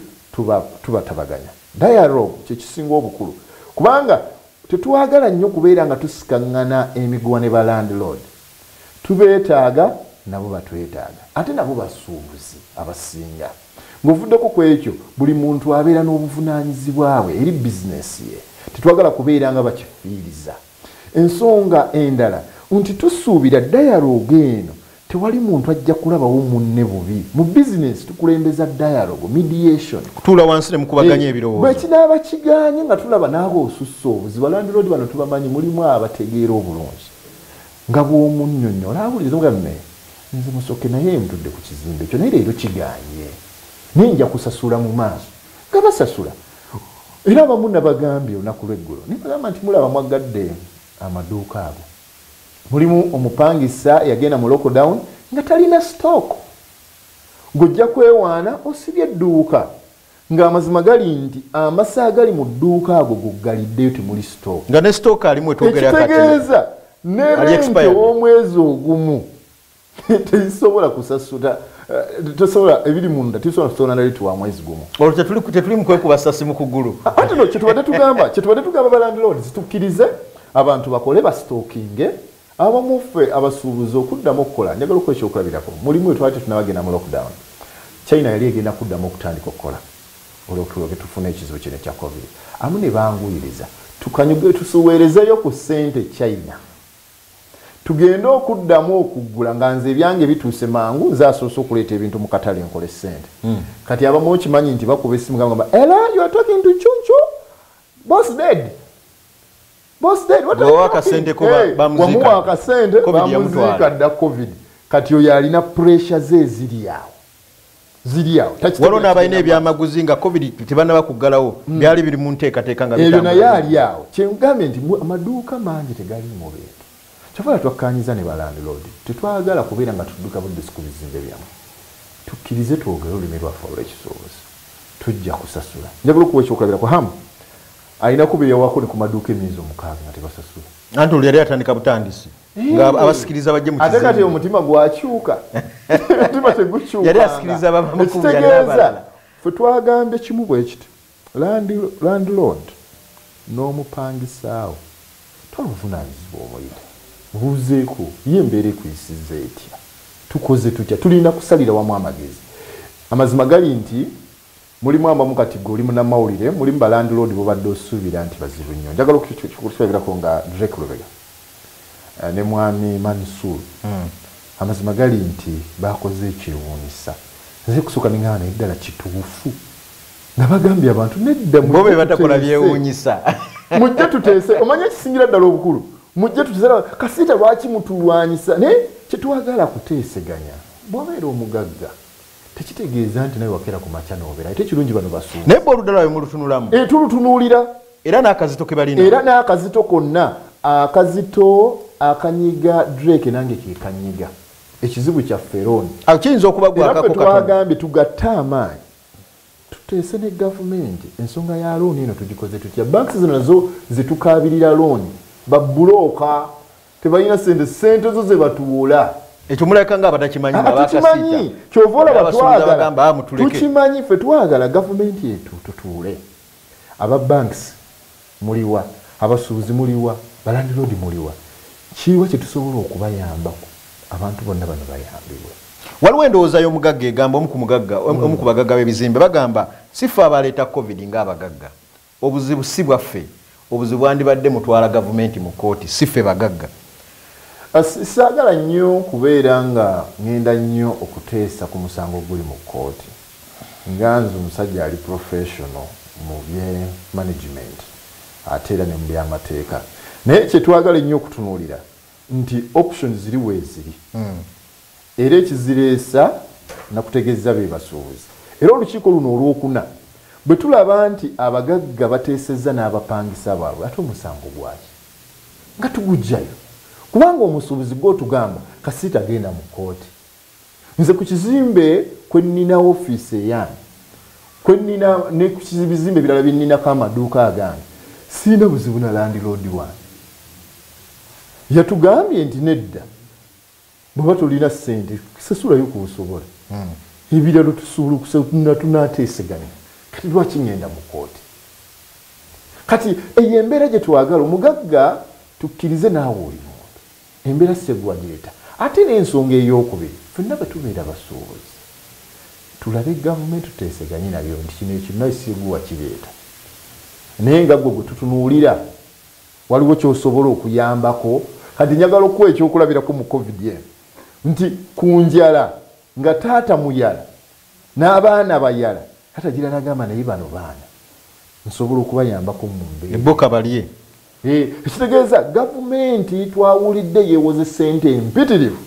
tubatabaganya. Dialogue kye kisinga obukulu kubanga tetwagala nnyo kubeera nga tusikaŋŋana emiguwa ne ba landlord. Tubeetaaga nabo batwetaaga ate nabo basuubuzi abasinga. Ng'ovuddeko ku ekyo, buli muntu abeera n'obuvunaanyizibwa bwe eri bizineesi ye. Tetwagala kubeera nga bakifiiriza. Ensonga endala nti tusuubira dayaloogo eno tewali muntu ajja kulabawo munne bubi. Mu bizineesi tukulembeza dayaloogo, mediation. Kutuula wansi ne mukubaganya ebirowoozo. Bwe kinaaba kigaanye nga tulaba n'aba osusse obuzibu. Ba landiroodi bano tubamanyi, mulimu abategeera obulungi. Nga bw'omunnyonnyola awuliriza n'omugamba naye. Nze musoke naye ntudde ku kizimbe ekyo naye leero kiganye naye nja kusasula mu maaso nga basasula era abamu nabagambye olunaku lweggulo naye bagamba nti mulaba mwaggadde amaduuka ago mulimu omupangisa yagenda mu lockdown nga talina stock ng'ojja kwewaana osibye edduuka Nga amazima gali nti amasa agali mu dduuka ago goggaliddeyo temuli stock. Nga ne stock alimu wetwogerera kati. Ekitegeeza ne rent ow'omwezi ogumu tezisobola kusasuta eh, tosobola ebiri munda tisobola kusona nali tuwa mwezi gumu olwo tetuli tetuli mu kwekuba sasi mu kugulu ate no kyetubadde tugamba kyetubadde tugamba ba landlords tukkirize abantu bakole basitokinge Abamu ffe abasuubuzi okuddamu okukola, njagala okuwa ekyokulabirako. Mu limu lwe twali tetunnaba genda mu lockdown, China yali egenda kuddamu okutandika okukola olw'okutulo ge tufuna ekizibu kino ekya Covid. Abamu ne banguyiriza tukanyuge tusuweerezeeyo ku ssente e China tugende okuddamu okuggula nga nze ebyange bituuse mangu nze asoose okuleeta ebintu mu katale nkole ssente. Hmm. Kati abamu okimanyi nti bakuba essimu nga bagamba, Hello, you are talking to Chunchu? Boss dead? wamuwa akasente bamuziika dda covid kati oyo alina puresure ze ziri awo waliwo n'abalina ebyamaguzi nga covid tebanaba kuggalawo hmm. byali biri mu nteekateeka nga ebyo naye ali awo kyengambye nti amaduuka mangi tegaliimu bintu kyovala twakkanyiza ne balandlord tetwagala kubeera nga tudduka buddusi ku bizimbe byamu tukkirize twogere olulimi lwaffe olw'ekisuubuzi tujja kusasula njagala okuwa ekyokulabirako hamu Alina kuba eyawako ne ku maduuka emyezi omukaaga nga tebasasula. Anti olwo yali atandika butandisi nga abasikiriza bajje mu kizimbe. Ate kati omutima gwakyuka. Omutima tegukyuka. Yali asikiriza abamukulu yali abalala. Ffe twagambye kimu bwe kiti landlord n'omupangisaawo twala obuvunaanyizibwa omuyite buuzeeko ye embeera ekuyisiza etya tukoze tutya tulina kusalira wamu amagezi amazima gali nti Mulimu abamu kati ggwe oli munamawulire, mulimu ba landlord bobadde osuubira nti bazibu nnyo. Njagala okukirabirako nga Drake Lubega eh, ne mwami Mansoor. Hmm. Amazima gali nti baakoze ekyewuunyisa. Nze kusooka ne ng'aba naye ddala kituufu. Nga bagambye abantu nedda mu. Bo be batakola byewuunyisa. Mujje tuteese, omanyi ekisingira ddala obukulu. Mujje tuteese, kasiita lwaki mutulwanyisa? Naye kye twagala kuteeseganya, bw'obeera omugagga. tekitegeeza nti nawe wakera ku makya nobera ate ekirungi bano basuuba naye boluda lwabe mulutunulamu e, tulutunuulira era n'akazito ke balina era n'akazito konna akazito akanyiga drake nange kekanyiga ekizibu kya feron kiyinza okuba gwakakotwagambye tugatte amaanyi tuteese ne gavumenti ensonga ya looni eno tugikoze tutya banks zino nazo zetukaabirira looni babulooka tebalina sente sente zo zebatuwola ekyo mulabika nga abatakimanyi ah, tukimanyi kyova olaba twagala ah, tukimanyi fe twagala gavumenti etu tutuule aba banks muliwa abasuubuzi muliwa balandiroodi muliwa kiwa kyetusobola okubayambako abantu bonna bano bayambibwe waliwo endowooza y'omugagga egamba omu ku mugagga omu ku bagagga b'ebizimbe bagamba sifa abaleeta covid ng'abagagga Obuzibu ssi bwaffe, obuzibu bwandibadde mutwala gavumenti mu kkooti ssi ffe bagagga. Ssaagala nnyo kubeera nga ng'enda nnyo okuteesa ku musango oguli mu kkooti nga nze omusajja ali pulofeeshono mu bye manegimenti ate era ne mu byamateeka naye kye twagala ennyo okutunuulira nti options ziri weeziri. era ekizireesa nakutegezza bebasuubuzi era olukiiko luno olwokuna bwetulaba nti abagagga bateesezza n'abapangisa baabwe ate omusango gwaki nga tugujjayo kubanga omusuubuzi gwotugamba kasiita genda mu kooti nze ku kizimbe kwennina ofiisi eyange kwennina ne ku bizimbe ebirala byenninako amaduuka agange siina buzibu na landiloodi wange yatugambye nti nedda bweba tolina sente sasulayo kubusobola hmm. ebiralo tusobola okusatuna tunateeseganya kati lwaki ngenda mu kooti kati eyo embeera gye twagala omugagga tukkirize naawe oli muntu embeera segwa gyeta ate n'ensonga ey'okubiri fenna bwe tubeera basuubuzi tulabe gavumenti tuteeseganye nabyo nti kino ekinna segwa kireeta naye nga gwe gwe tutunuulira Waliwo ky'osobola okuyambako? Kati njagala okukuwa ekyokulabirako mu Covid eno nti ku njala nga taata muyala n'abaana bayala, taata agira n'agamba naye bano baana nsobola okubayambako mu mbeera. Ne bo kabalye. Hee, ekitegeeza gavumenti twawulidde yeewoze ssente mpitirivu.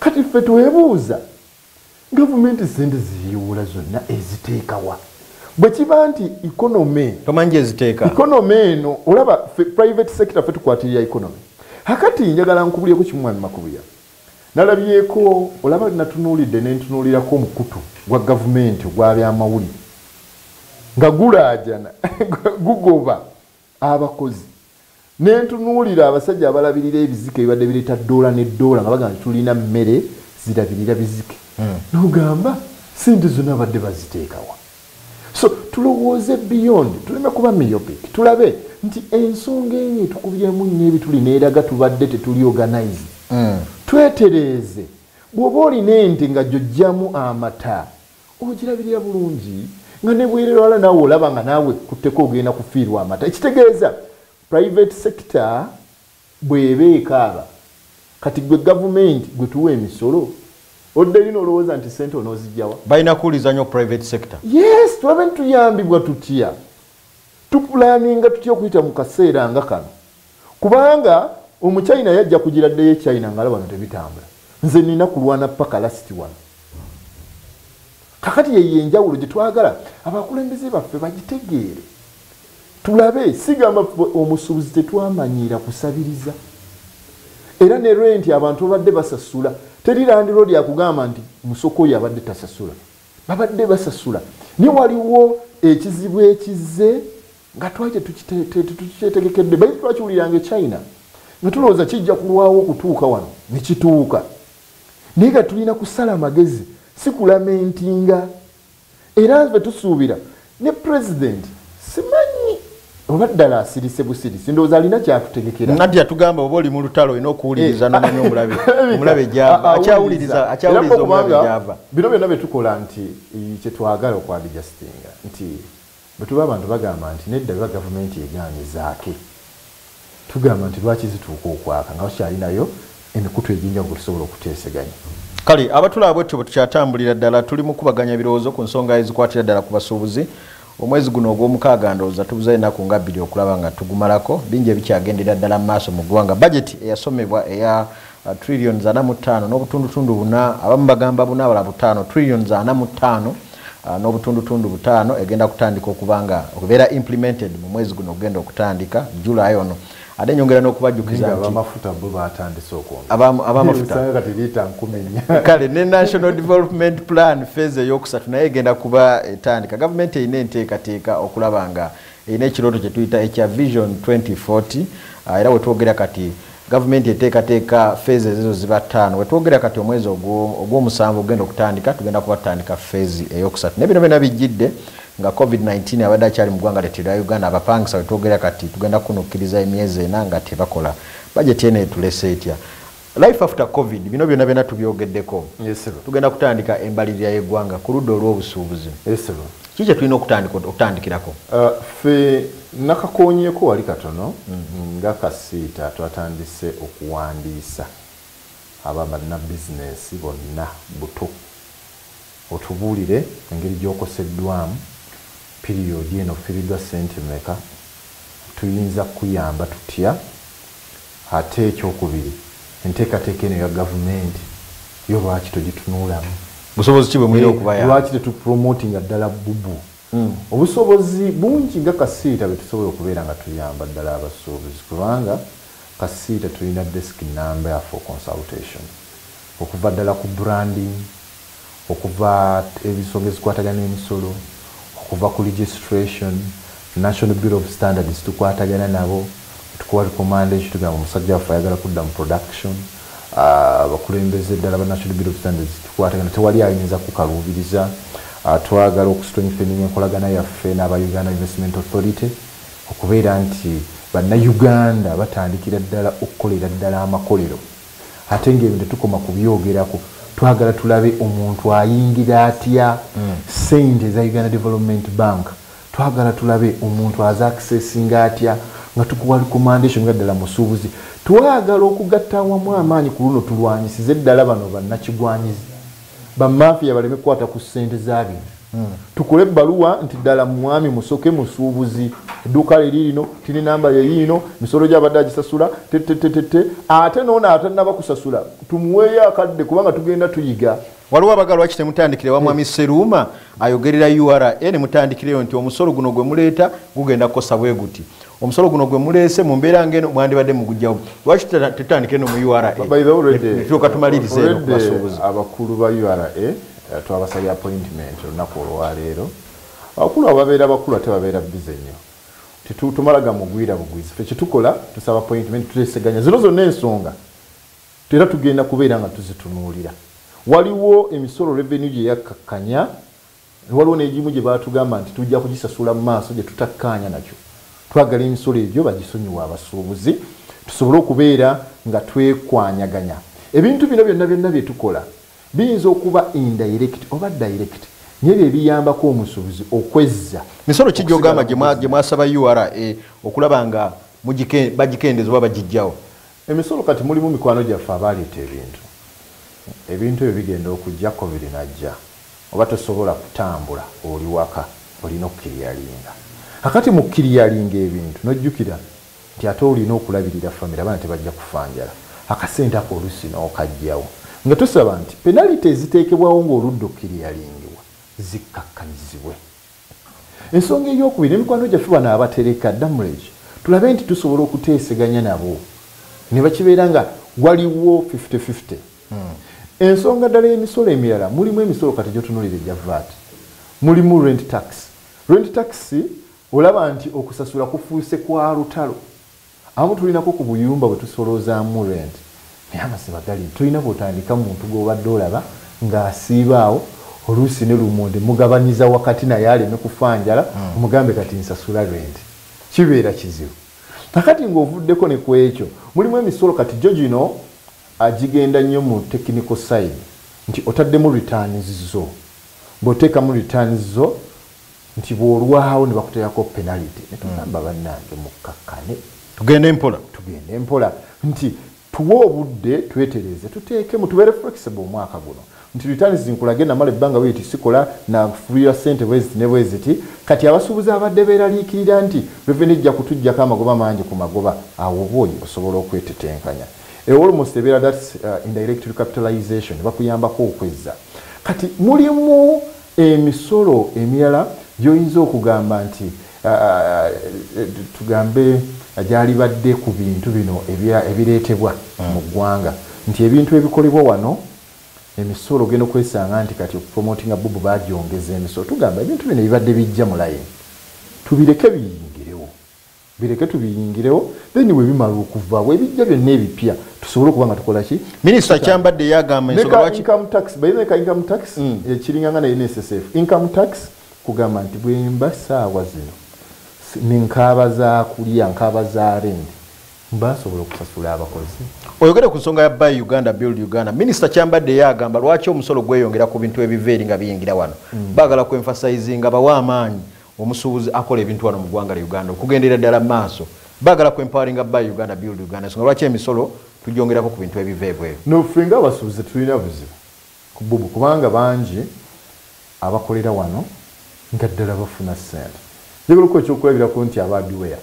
Kati ffe twebuuza gavumenti sente ziyiwula zonna eziteekawa bwekiba nti economy tomanyi eziteeka economy eno olaba private sector fe tukwatirira economy hakati njagala nkubulyeko kimu mwami makubuya nalabyeko olaba natunuulidde nentunuulirako omukutu gwa gavumenti ogwabyamawulire nga gulaajana gugoba abakozi ne ntunuulira abasajja abalabirira ebizike bibadde bireeta ddoola ne ddoola nga bagamba nti tulina mmere zirabirira bizike hmm. nogamba sente zonna badde baziteekawa so tulowooze beyond tuleme kuba miopic tulabe nti ensonga enyo etukubyemu nnyo ebituli neeraga tubadde tetuli organized hmm. twetereeze bw'oba olina ente nga gyojjamu amata Ogirabirira bulungi nga ne bwerere wala naawe olaba nga naawe ekkutteko ogenda kufiirwa amata. Ekitegeeza private sector bw'eba ekaaba kati ggwe gavumenti gwe tuwa emisolo oddeyo n'olowooza nti ssente onoozijja wa? Balina kuwuliriza nnyo private sector. Yes, tulabe nti tuyambibwa tutya, tupulaaninga tutya okuyita mu kaseera nga kano. Kubanga omu China yajja kujira ddeyo e China ngala wano tebitambula. Nze nina kulwana paka last wano. Kakati ye yenjawulo gye twagala abakulembeze baffe bagitegeere. Tulabe sigamba omusubuzi tetwamanyiira kusabiriza. Era ne renti abantu babadde basasula. Teri landiroodi akugamba nti musoko oyo abadde tasasula. Babadde basasula. Naye waliwo ekizibu ekizze nga twali tetukyetegekedde bayi twakiwuliranga echina nga tulowooza kijja kulwawo okutuuka wano ne kituuka naye nga tulina kusala amagezi si kulamentinga era nve tusuubira ne pulezidenti simanyi oba ddala asirise busirisi ndowooza alina kyatutegekera nati atugamba oba oli mu lutalo olina okuwuliriza eh. nomanya omulabe omulabe gyava akyawuliriza akyawuliriza omulabe gyava bino byonna bye tukola nti kyetwagala okwabijasitinga nti Bwetuba abantu bagamba nti nedda biba gavumenti egaanye zaake tugamba nti lwaki zituuka okwaaka nga bakyalinayo emikutu ejenjawulo kwetusobola okuteeseganya. Kale abatulaba bwetutyo bwetukyatambulira ddala tuli mukubaganya birowoozo ku nsonga ezikwatira ddala ku basuubuzi. Omwezi guno ogwomukaaga ndowooza tubuzayo enaku nga bbiri okulaba nga tugumalako. Bingi ebikyagenderera ddala mu maaso mu ggwanga. Bajeti eyasomebwa eya uh, trillions ana mu ttaano n'obutundutundu buna abamu bagamba buna abala butaano trillions ana mu ttaano uh, n'obutundutundu butaano egenda kutandika okuba nga okubeera implemented mu mwezi guno okugenda okutandika july ono ate nyongera n'okubajjukiza nti abamafuta bo baatandise okwonga abamafuta kati liita nkumi nnya kale ne national development plan phase ey'okusatu naye egenda kuba etandika gavumenti erina enteekateeka okulaba nga erina ekirooto kye tuyita ekya vision 2040 ah, era wetwogera kati gavumenti eteekateeka feezi ezizo ziba ttaano wetwogera kati omwezi ogw'omusanvu ogenda okutandika tugenda kuba tutandika feezi eyokusatu naye bino byona bijjidde nga covid-19 abadde akyali mu ggwanga lyettu erya uganda abapangisa wetwogera kati tugenda kunukkiriza emyezi ena nga tebakola bajeti eno etulese etya Life after covid bino byona byona tubyogedeko tugenda kutandika embalirira yegwanga kuluda olwobusuubuzi ki kyetulina okutandikirako uh, fe nakakonyeko wali katono mm. nga kasiita twatandise okuwandiisa aba banabizinesi bonna buto Otubuulire engeri gy'okoseddwamu, piriyodi eno offiiriddwa ssente mmeka, tuyinza kukuyamba tutya? Ate ekyokubiri, enteekateeka eno eya gavumenti yo lwaki togitunuulamu? Busobozi ki bwe mulina okubayamba? Eeh, lwaki tetupromotinga ddala bubu? Hmm. Obusobozi bungi nga kasiita be tusobola okubeera nga tuyamba ddala abasuubuzi kubanga kasiita tulina desiki nnamba ya for consultation okuva ddala ku branding, okuva ebisonga ezikwatagana emisolo okuva ku registration national bureau of standards tukwatagana nabo tukuwa recommendation tugamba omusajja waffe ayagala kudda mu production ah, abakulembeze uh, ddala ba national bureau of standards tukwatagana tewali ayinza kukaluubiriza uh, twagala okustrengthening enkolagana yaffe n'aba uganda investment authority okubeera nti bannauganda batandikira ddala okukolera ddala amakolero ate nga ebyo tetukoma kubyogerako twagala tulabe omuntu ayingira atya mm. sente eza uganda development bank twagala tulabe omuntu aza akisesinga atya nga tukuwa recommendation nga ddala musuubuzi twagala okugatta awamu amaanyi ku luno tulwanyisize ddala bano bannakigwanyizi bamafiya baleme kukwata ku sente zabino hmm. tukole ebbaluwa nti ddala mwami musoke musuubuzi edduuka liri lino tiri namba yeyiino misolo gyabadde agisasula tetetetete ate noona atanaba kusasula tumuweeyo akadde kubanga tugenda tuyiga waliwo abaga lwaki temutandikire wamwami hmm. seruuma ayogerera ura nemutandikireyo nti omusolo guno gwe muleeta gugenda kukosa bwe guti omusolo guno gwe muleese mu mbeera ng'eno mwandibadde mugujjawo lwaki tetandike no mu uratuuka tumaliriza eno kubasuubuzi abakulu ba ura eh, twabasabye appointment olunaku olwaleero abakulu abo babeera bakulu ate babeera bize nnyo tetumala gamugwira bugwizi fe kyetukola tusaba appointment tuteseganya zino zonna ensonga era tugenda kubeera nga tuzitunuulira waliwo emisolo revenue gye yakkakkanya Waliwo n'egimu gye baatugamba nti tujja kugisasula mu maaso gye tutakkaanya nakyo. Twagala emisolo egyo bagisonyiwe abasuubuzi tusobole okubeera nga twekwanyaganya. Ebintu bino byonna byonna bye tukola biyinza okuba indayirekiti oba dayirekiti naye bye biyambako omusuubuzi okwezza. Misolo ki gy'ogamba gye mwasaba ura okulaba nga bagikendeeza oba bagiggyawo? Emisolo kati mulimu mikwano gyaffe abaaleeta ebintu. Ebintu ebyo bigenda okujja covid najja. Oba tosobola kutambula oli waka olina okukiriyalinga. Kakati mu kukiriyalinga ebintu n'ojjukira nti ate olina okulabirira famire abaana tebajja kufa njala. Akasente ako oluusi n'okajjawo nga tusaba nti penaliti eziteekebwawo ng'oludda okukiriyalingibwa zikkakkanyizibwe. Ensonga ey'okubiri, ne mikwano gyaffe bano abatereka, damulage, tulabe nti tusobola okuteeseganya nabo ne bakibeera nga waliwo fifty fifty. Ensonga ddala y'emisolo emirala, mulimu emisolo kati gy'otunuulira egya VAT, mulimu rent tax. Rent tax olaba nti okusasula kufuuse kwa lutalo. Abamu tulinako ku buyumba bwe tusoloozaamu rent naye amazima gali nti tolina bw'otandika muntu gw'obadde olaba ng'asiiba awo oluusi ne lumonde mugabanyiza wakati naye aleme kufa njala omugambe kati nsasula rent. Kibeera kizibu. Kaakati ng'ovuddeko ne ku ekyo, mulimu emisolo kati gyo gino gigenda nnyo mu technical side nti otaddemu returns zo. Bw'oteekamu returns zo. nti bwolwawo nebakuteerako penality netugamba mm. bannange mukkakkane tugende mpola tugende mpola nti tuwe obudde twetereze tuteekemu tubeere flexible omwaka guno nti returns nkulage namala ebbanga weti sikola nafulira sente bweziti ne bweziti kati abasuubuzi abadde beeraliikirira nti reveni ejja kutuggyako amagoba mangi ku magoba awo oba oyo osobola okwetetenkanya ewolmost ebeera thats uh, indirectory capitalization bakuyambako okwezza kati mulimu Emisolo emirala gy'oyinza okugamba nti tugambe gyalibadde ku bintu bino ebireetebwa mu ggwanga nti ebintu ebikolebwa wano emisolo ogenda okwesanga nti kati okupromotinga bubu bagyongeza emisolo tugamba ebintu bino ebibadde bijja mu layini tubireke biyingirewo. Bireke tubiyingirewo then webimala okuva webijja byonna ebipya tusobole okuba nga tukola ki Minister Kyambadde yagamba ensonga lwaki income tax by the way income tax mm. ekiringa nga na NSSF income tax kugamba nti bwemba saawa zino nenkaaba za kulya nkaaba za rendi basobola okusasula abakozi oyogere ku nsonga ya buy uganda build uganda minisita kyambadde ye agamba lwaki omusolo gweyongera ku bintu ebiva eri nga biyingira wano mm. bagala ku emphasizinga bawa amaanyi omusuubuzi akola ebintu wano mu gwanga lya Uganda okugenderera ddala mu maaso bagala ku empoweringa buy Uganda build Uganda ensonga lwaki emisolo tugyongerako ku bintu ebiva ebweru. No ffe nga abasuubuzi tetulina buzibu ku bubu kubanga bangi abakolera wano nga ddala bafuna ssente. Njagala okuwa ekyokulabirako nti aba Adiwea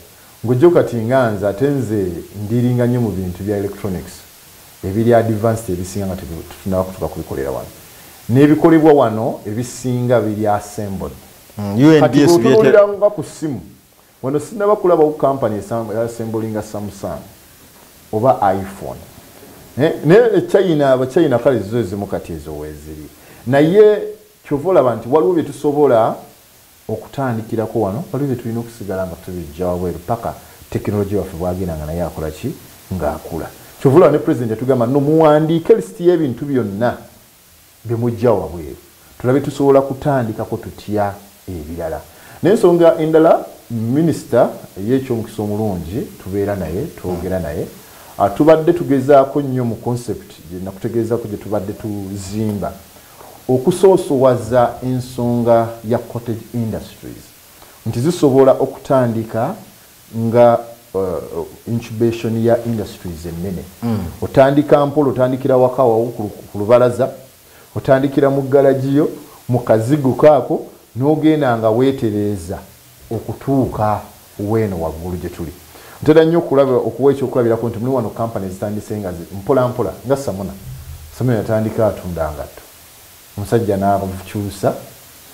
ng'oggyeeko kati nga nze ate nze ndiiringa nnyo mu bintu bya electronics ebiri advanced ebisinga nga tetunnaba kutuuka kubikolera wano n'ebikolebwa wano ebisinga biri assembled. mm, kati bwotunulira nga ku simu wano sinaba kulabawo kampany esembolinga samsung oba iphone eh, naye echina eh, abachina kale zizo ezimu kati ezo weziri naye kyova olaba nti waliwo byetusobola okutandikirako wano waliwo byetulina okusigala nga tubijja wabweru paka tekinologi waffe bwagenda nga naye akola ki ngaakula kyova olaba ne president yatugamba no muwandiike lisiti y'ebintu byonna bye mujja wabweru tulabe tusobola kutandikako tutya ebirala. Naye ensonga endala minisita ey'ekyomukisa omulungi tubeera naye, twogera naye, ah, tubadde tugezaako nnyo mu concept gye nakutegeezako gye tubadde tuzimba okusoosowaza ensonga ya cottage industries nti zisobola okutandika nga uh, incubation ya industries ennene mm. otandika mpola otandikira waka wawo ku lubalaza otandikira mu galagiyo mu kazigo kaako n'ogenda nga weetereeza okutuuka weeno waggulu gye tuli ntera nnyo okulaba okuwa ekyokulabirako nti muli wano kampani ezitandise nga mpolampola nga samuna samuna yatandika atunda ngatto Omusajja n'akyusa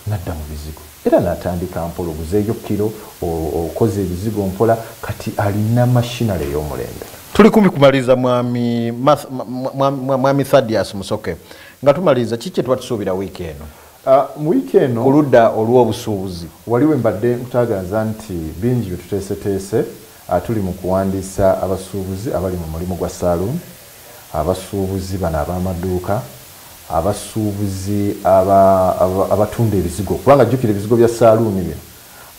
n'adda mu bizigo era natandika mpola oguzeeyo kkiro, okoze ebizigo mpola, kati alina machinery ey'omulembe. Tuli kumpi kumaliriza mwami, mwami Thadius Musoke nga tumaliriza kiki kyetuba tusuubira wiiki eno? Ah, mu wiiki eno ku ludda olw'obusuubuzi wali we mbadde nkutagaza nti bingi bye tuteeseteese, ah, tuli mu kuwandiisa abasuubuzi abali mu mulimu gwa saaluuni, abasuubuzi bano ab'amaduuka, abasuubuzi aba, aba, abatunda ebizigo kubanga jjukira ebizigo bya saaluuni bino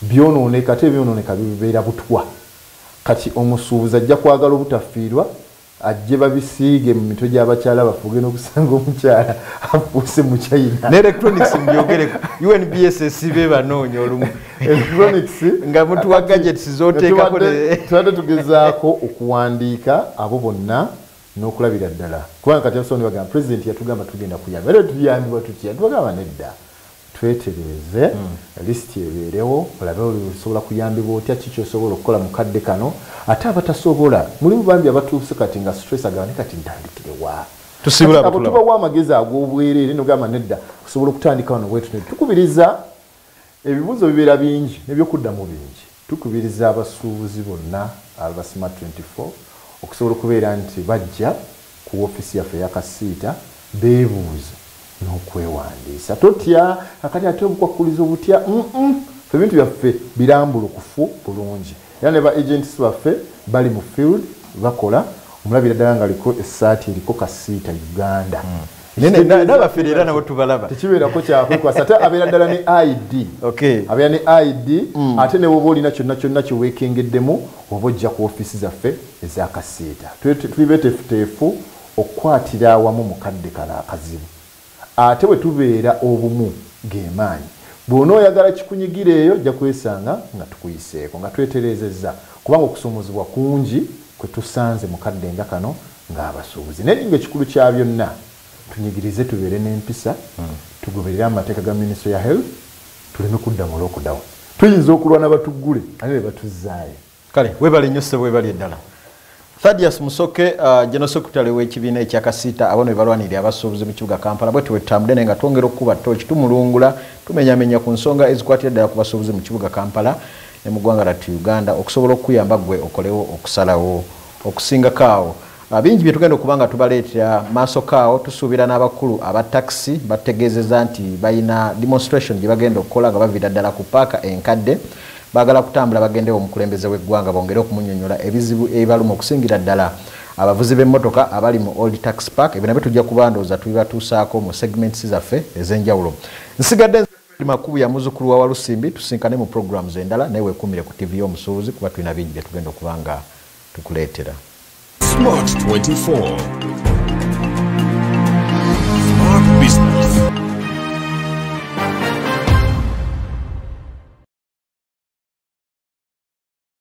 byonooneka ate ebyonooneka bibeera butwa kati omusuubuzi ajja kwagala obutafiirwa ajje babisiige mu mitwe gy'abakyala baffe ogenda okusanga omukyala afuuse mu china ne electronics mbyogereko unbss be banoonya olumu nga mutuwa gadgets zoteekako tubadde tugezaako okuwandiika abo bonna n'okulabira ddala kubanga kati abasobola bagamba pulezidenti yatugamba tugenda kuyamba era tuyambibwa tutya tubagamba nedda twetereeze hmm. lisiti ebeerewo olabe osobola kuyambibwa otya ki kyosobola okukola mu kadde kano ate abatasobola mulimu bambi abatuuse kati nga stress agamba ne kati ntandikirewa tubawa amagezi ag'obwereere nogamba nedda osobola okutandika wano bwetu tukubiriza Ebibuuzo bibeera bingi n'ebyokuddamu bingi. Tukubiriza abasuubuzi bonna aba Smart twenty four okusobola okubeera nti bajja ku woofiisi yaffe eya Kasiita beebuuze n'okwewandiisa. Totya kakati ate obukwakkulizo butya? Mm-mm. Ffe ebintu byaffe birambulukufu bulungi era ne ba agents baffe bali mu field bakola, omulabira ddala ng'aliko essaati eriko Kasiita Uganda. nabafere era nabo tubalaba tekibeerako kyakwekwasa ate abeera ddala ne id abeera ne id mm. ate newoba olina kyonna kyonna kyewekengeddemu oba ojja ku ofiisi zaffe ezakasiita tuli betefuteefu okukwatira awamu mukadde kano akazibu ate bwe tubeera obumu gemaanyi bwona oyagala kikunyigira eyo ojja kwesanga nga tukuyiseeko nga tweterezezza kubanga okusumuzibwa kungi kwe tusanze mukadde nga kano ng'abasuubuzi naye ng'ekikulu kya byonna tunyigirize tubeere n'empisa hmm. tugoberere amateeka ga minisitule ya health tuleme kudda mu lockdown tuyinza okulwana batuggule ani be batuzzaayo kale webale nnyo ssebo webali eddala thadius musoke uh, general secretary w'ekibiina ekya kasiita abano bebalwanirira abasuubuzi mu kibuga kampala bwe tuwetutambudde naye nga twongera okukuba tooki tumulungula tumenyamenya ku nsonga ezikwatira ddala ku basuubuzi mu kibuga kampala ne mu ggwanga lattu uganda okusobola okukuyamba ggwe okolewo okusalawo Okusingako awo, bingi bye tugenda okuba nga tubaleetera maasoko awo. Tusuubira n'abakulu aba takisi batutegeezezza nti balina demonstration gye bagenda okukola nga baviira ddala ku paaka enkadde. Baagala kutambula bagendewo omukulembeze w'eggwanga bongere okumunyonyola ebizibu ebibaluma okusingira ddala abavuzi b'emmotoka abali mu Old Tax Park. Ebyo nabyo tujja kuba ndowooza tubibatuusaako mu segments zaffe ez'enjawulo. Nsigadde Fred Makubu ya muzukulu wa Walusimbi tusinkane mu programs endala naye wekumire ku TV y'omusuubuzi kuba tulina bingi bye tugenda okuba nga tukuleetera. Smart 24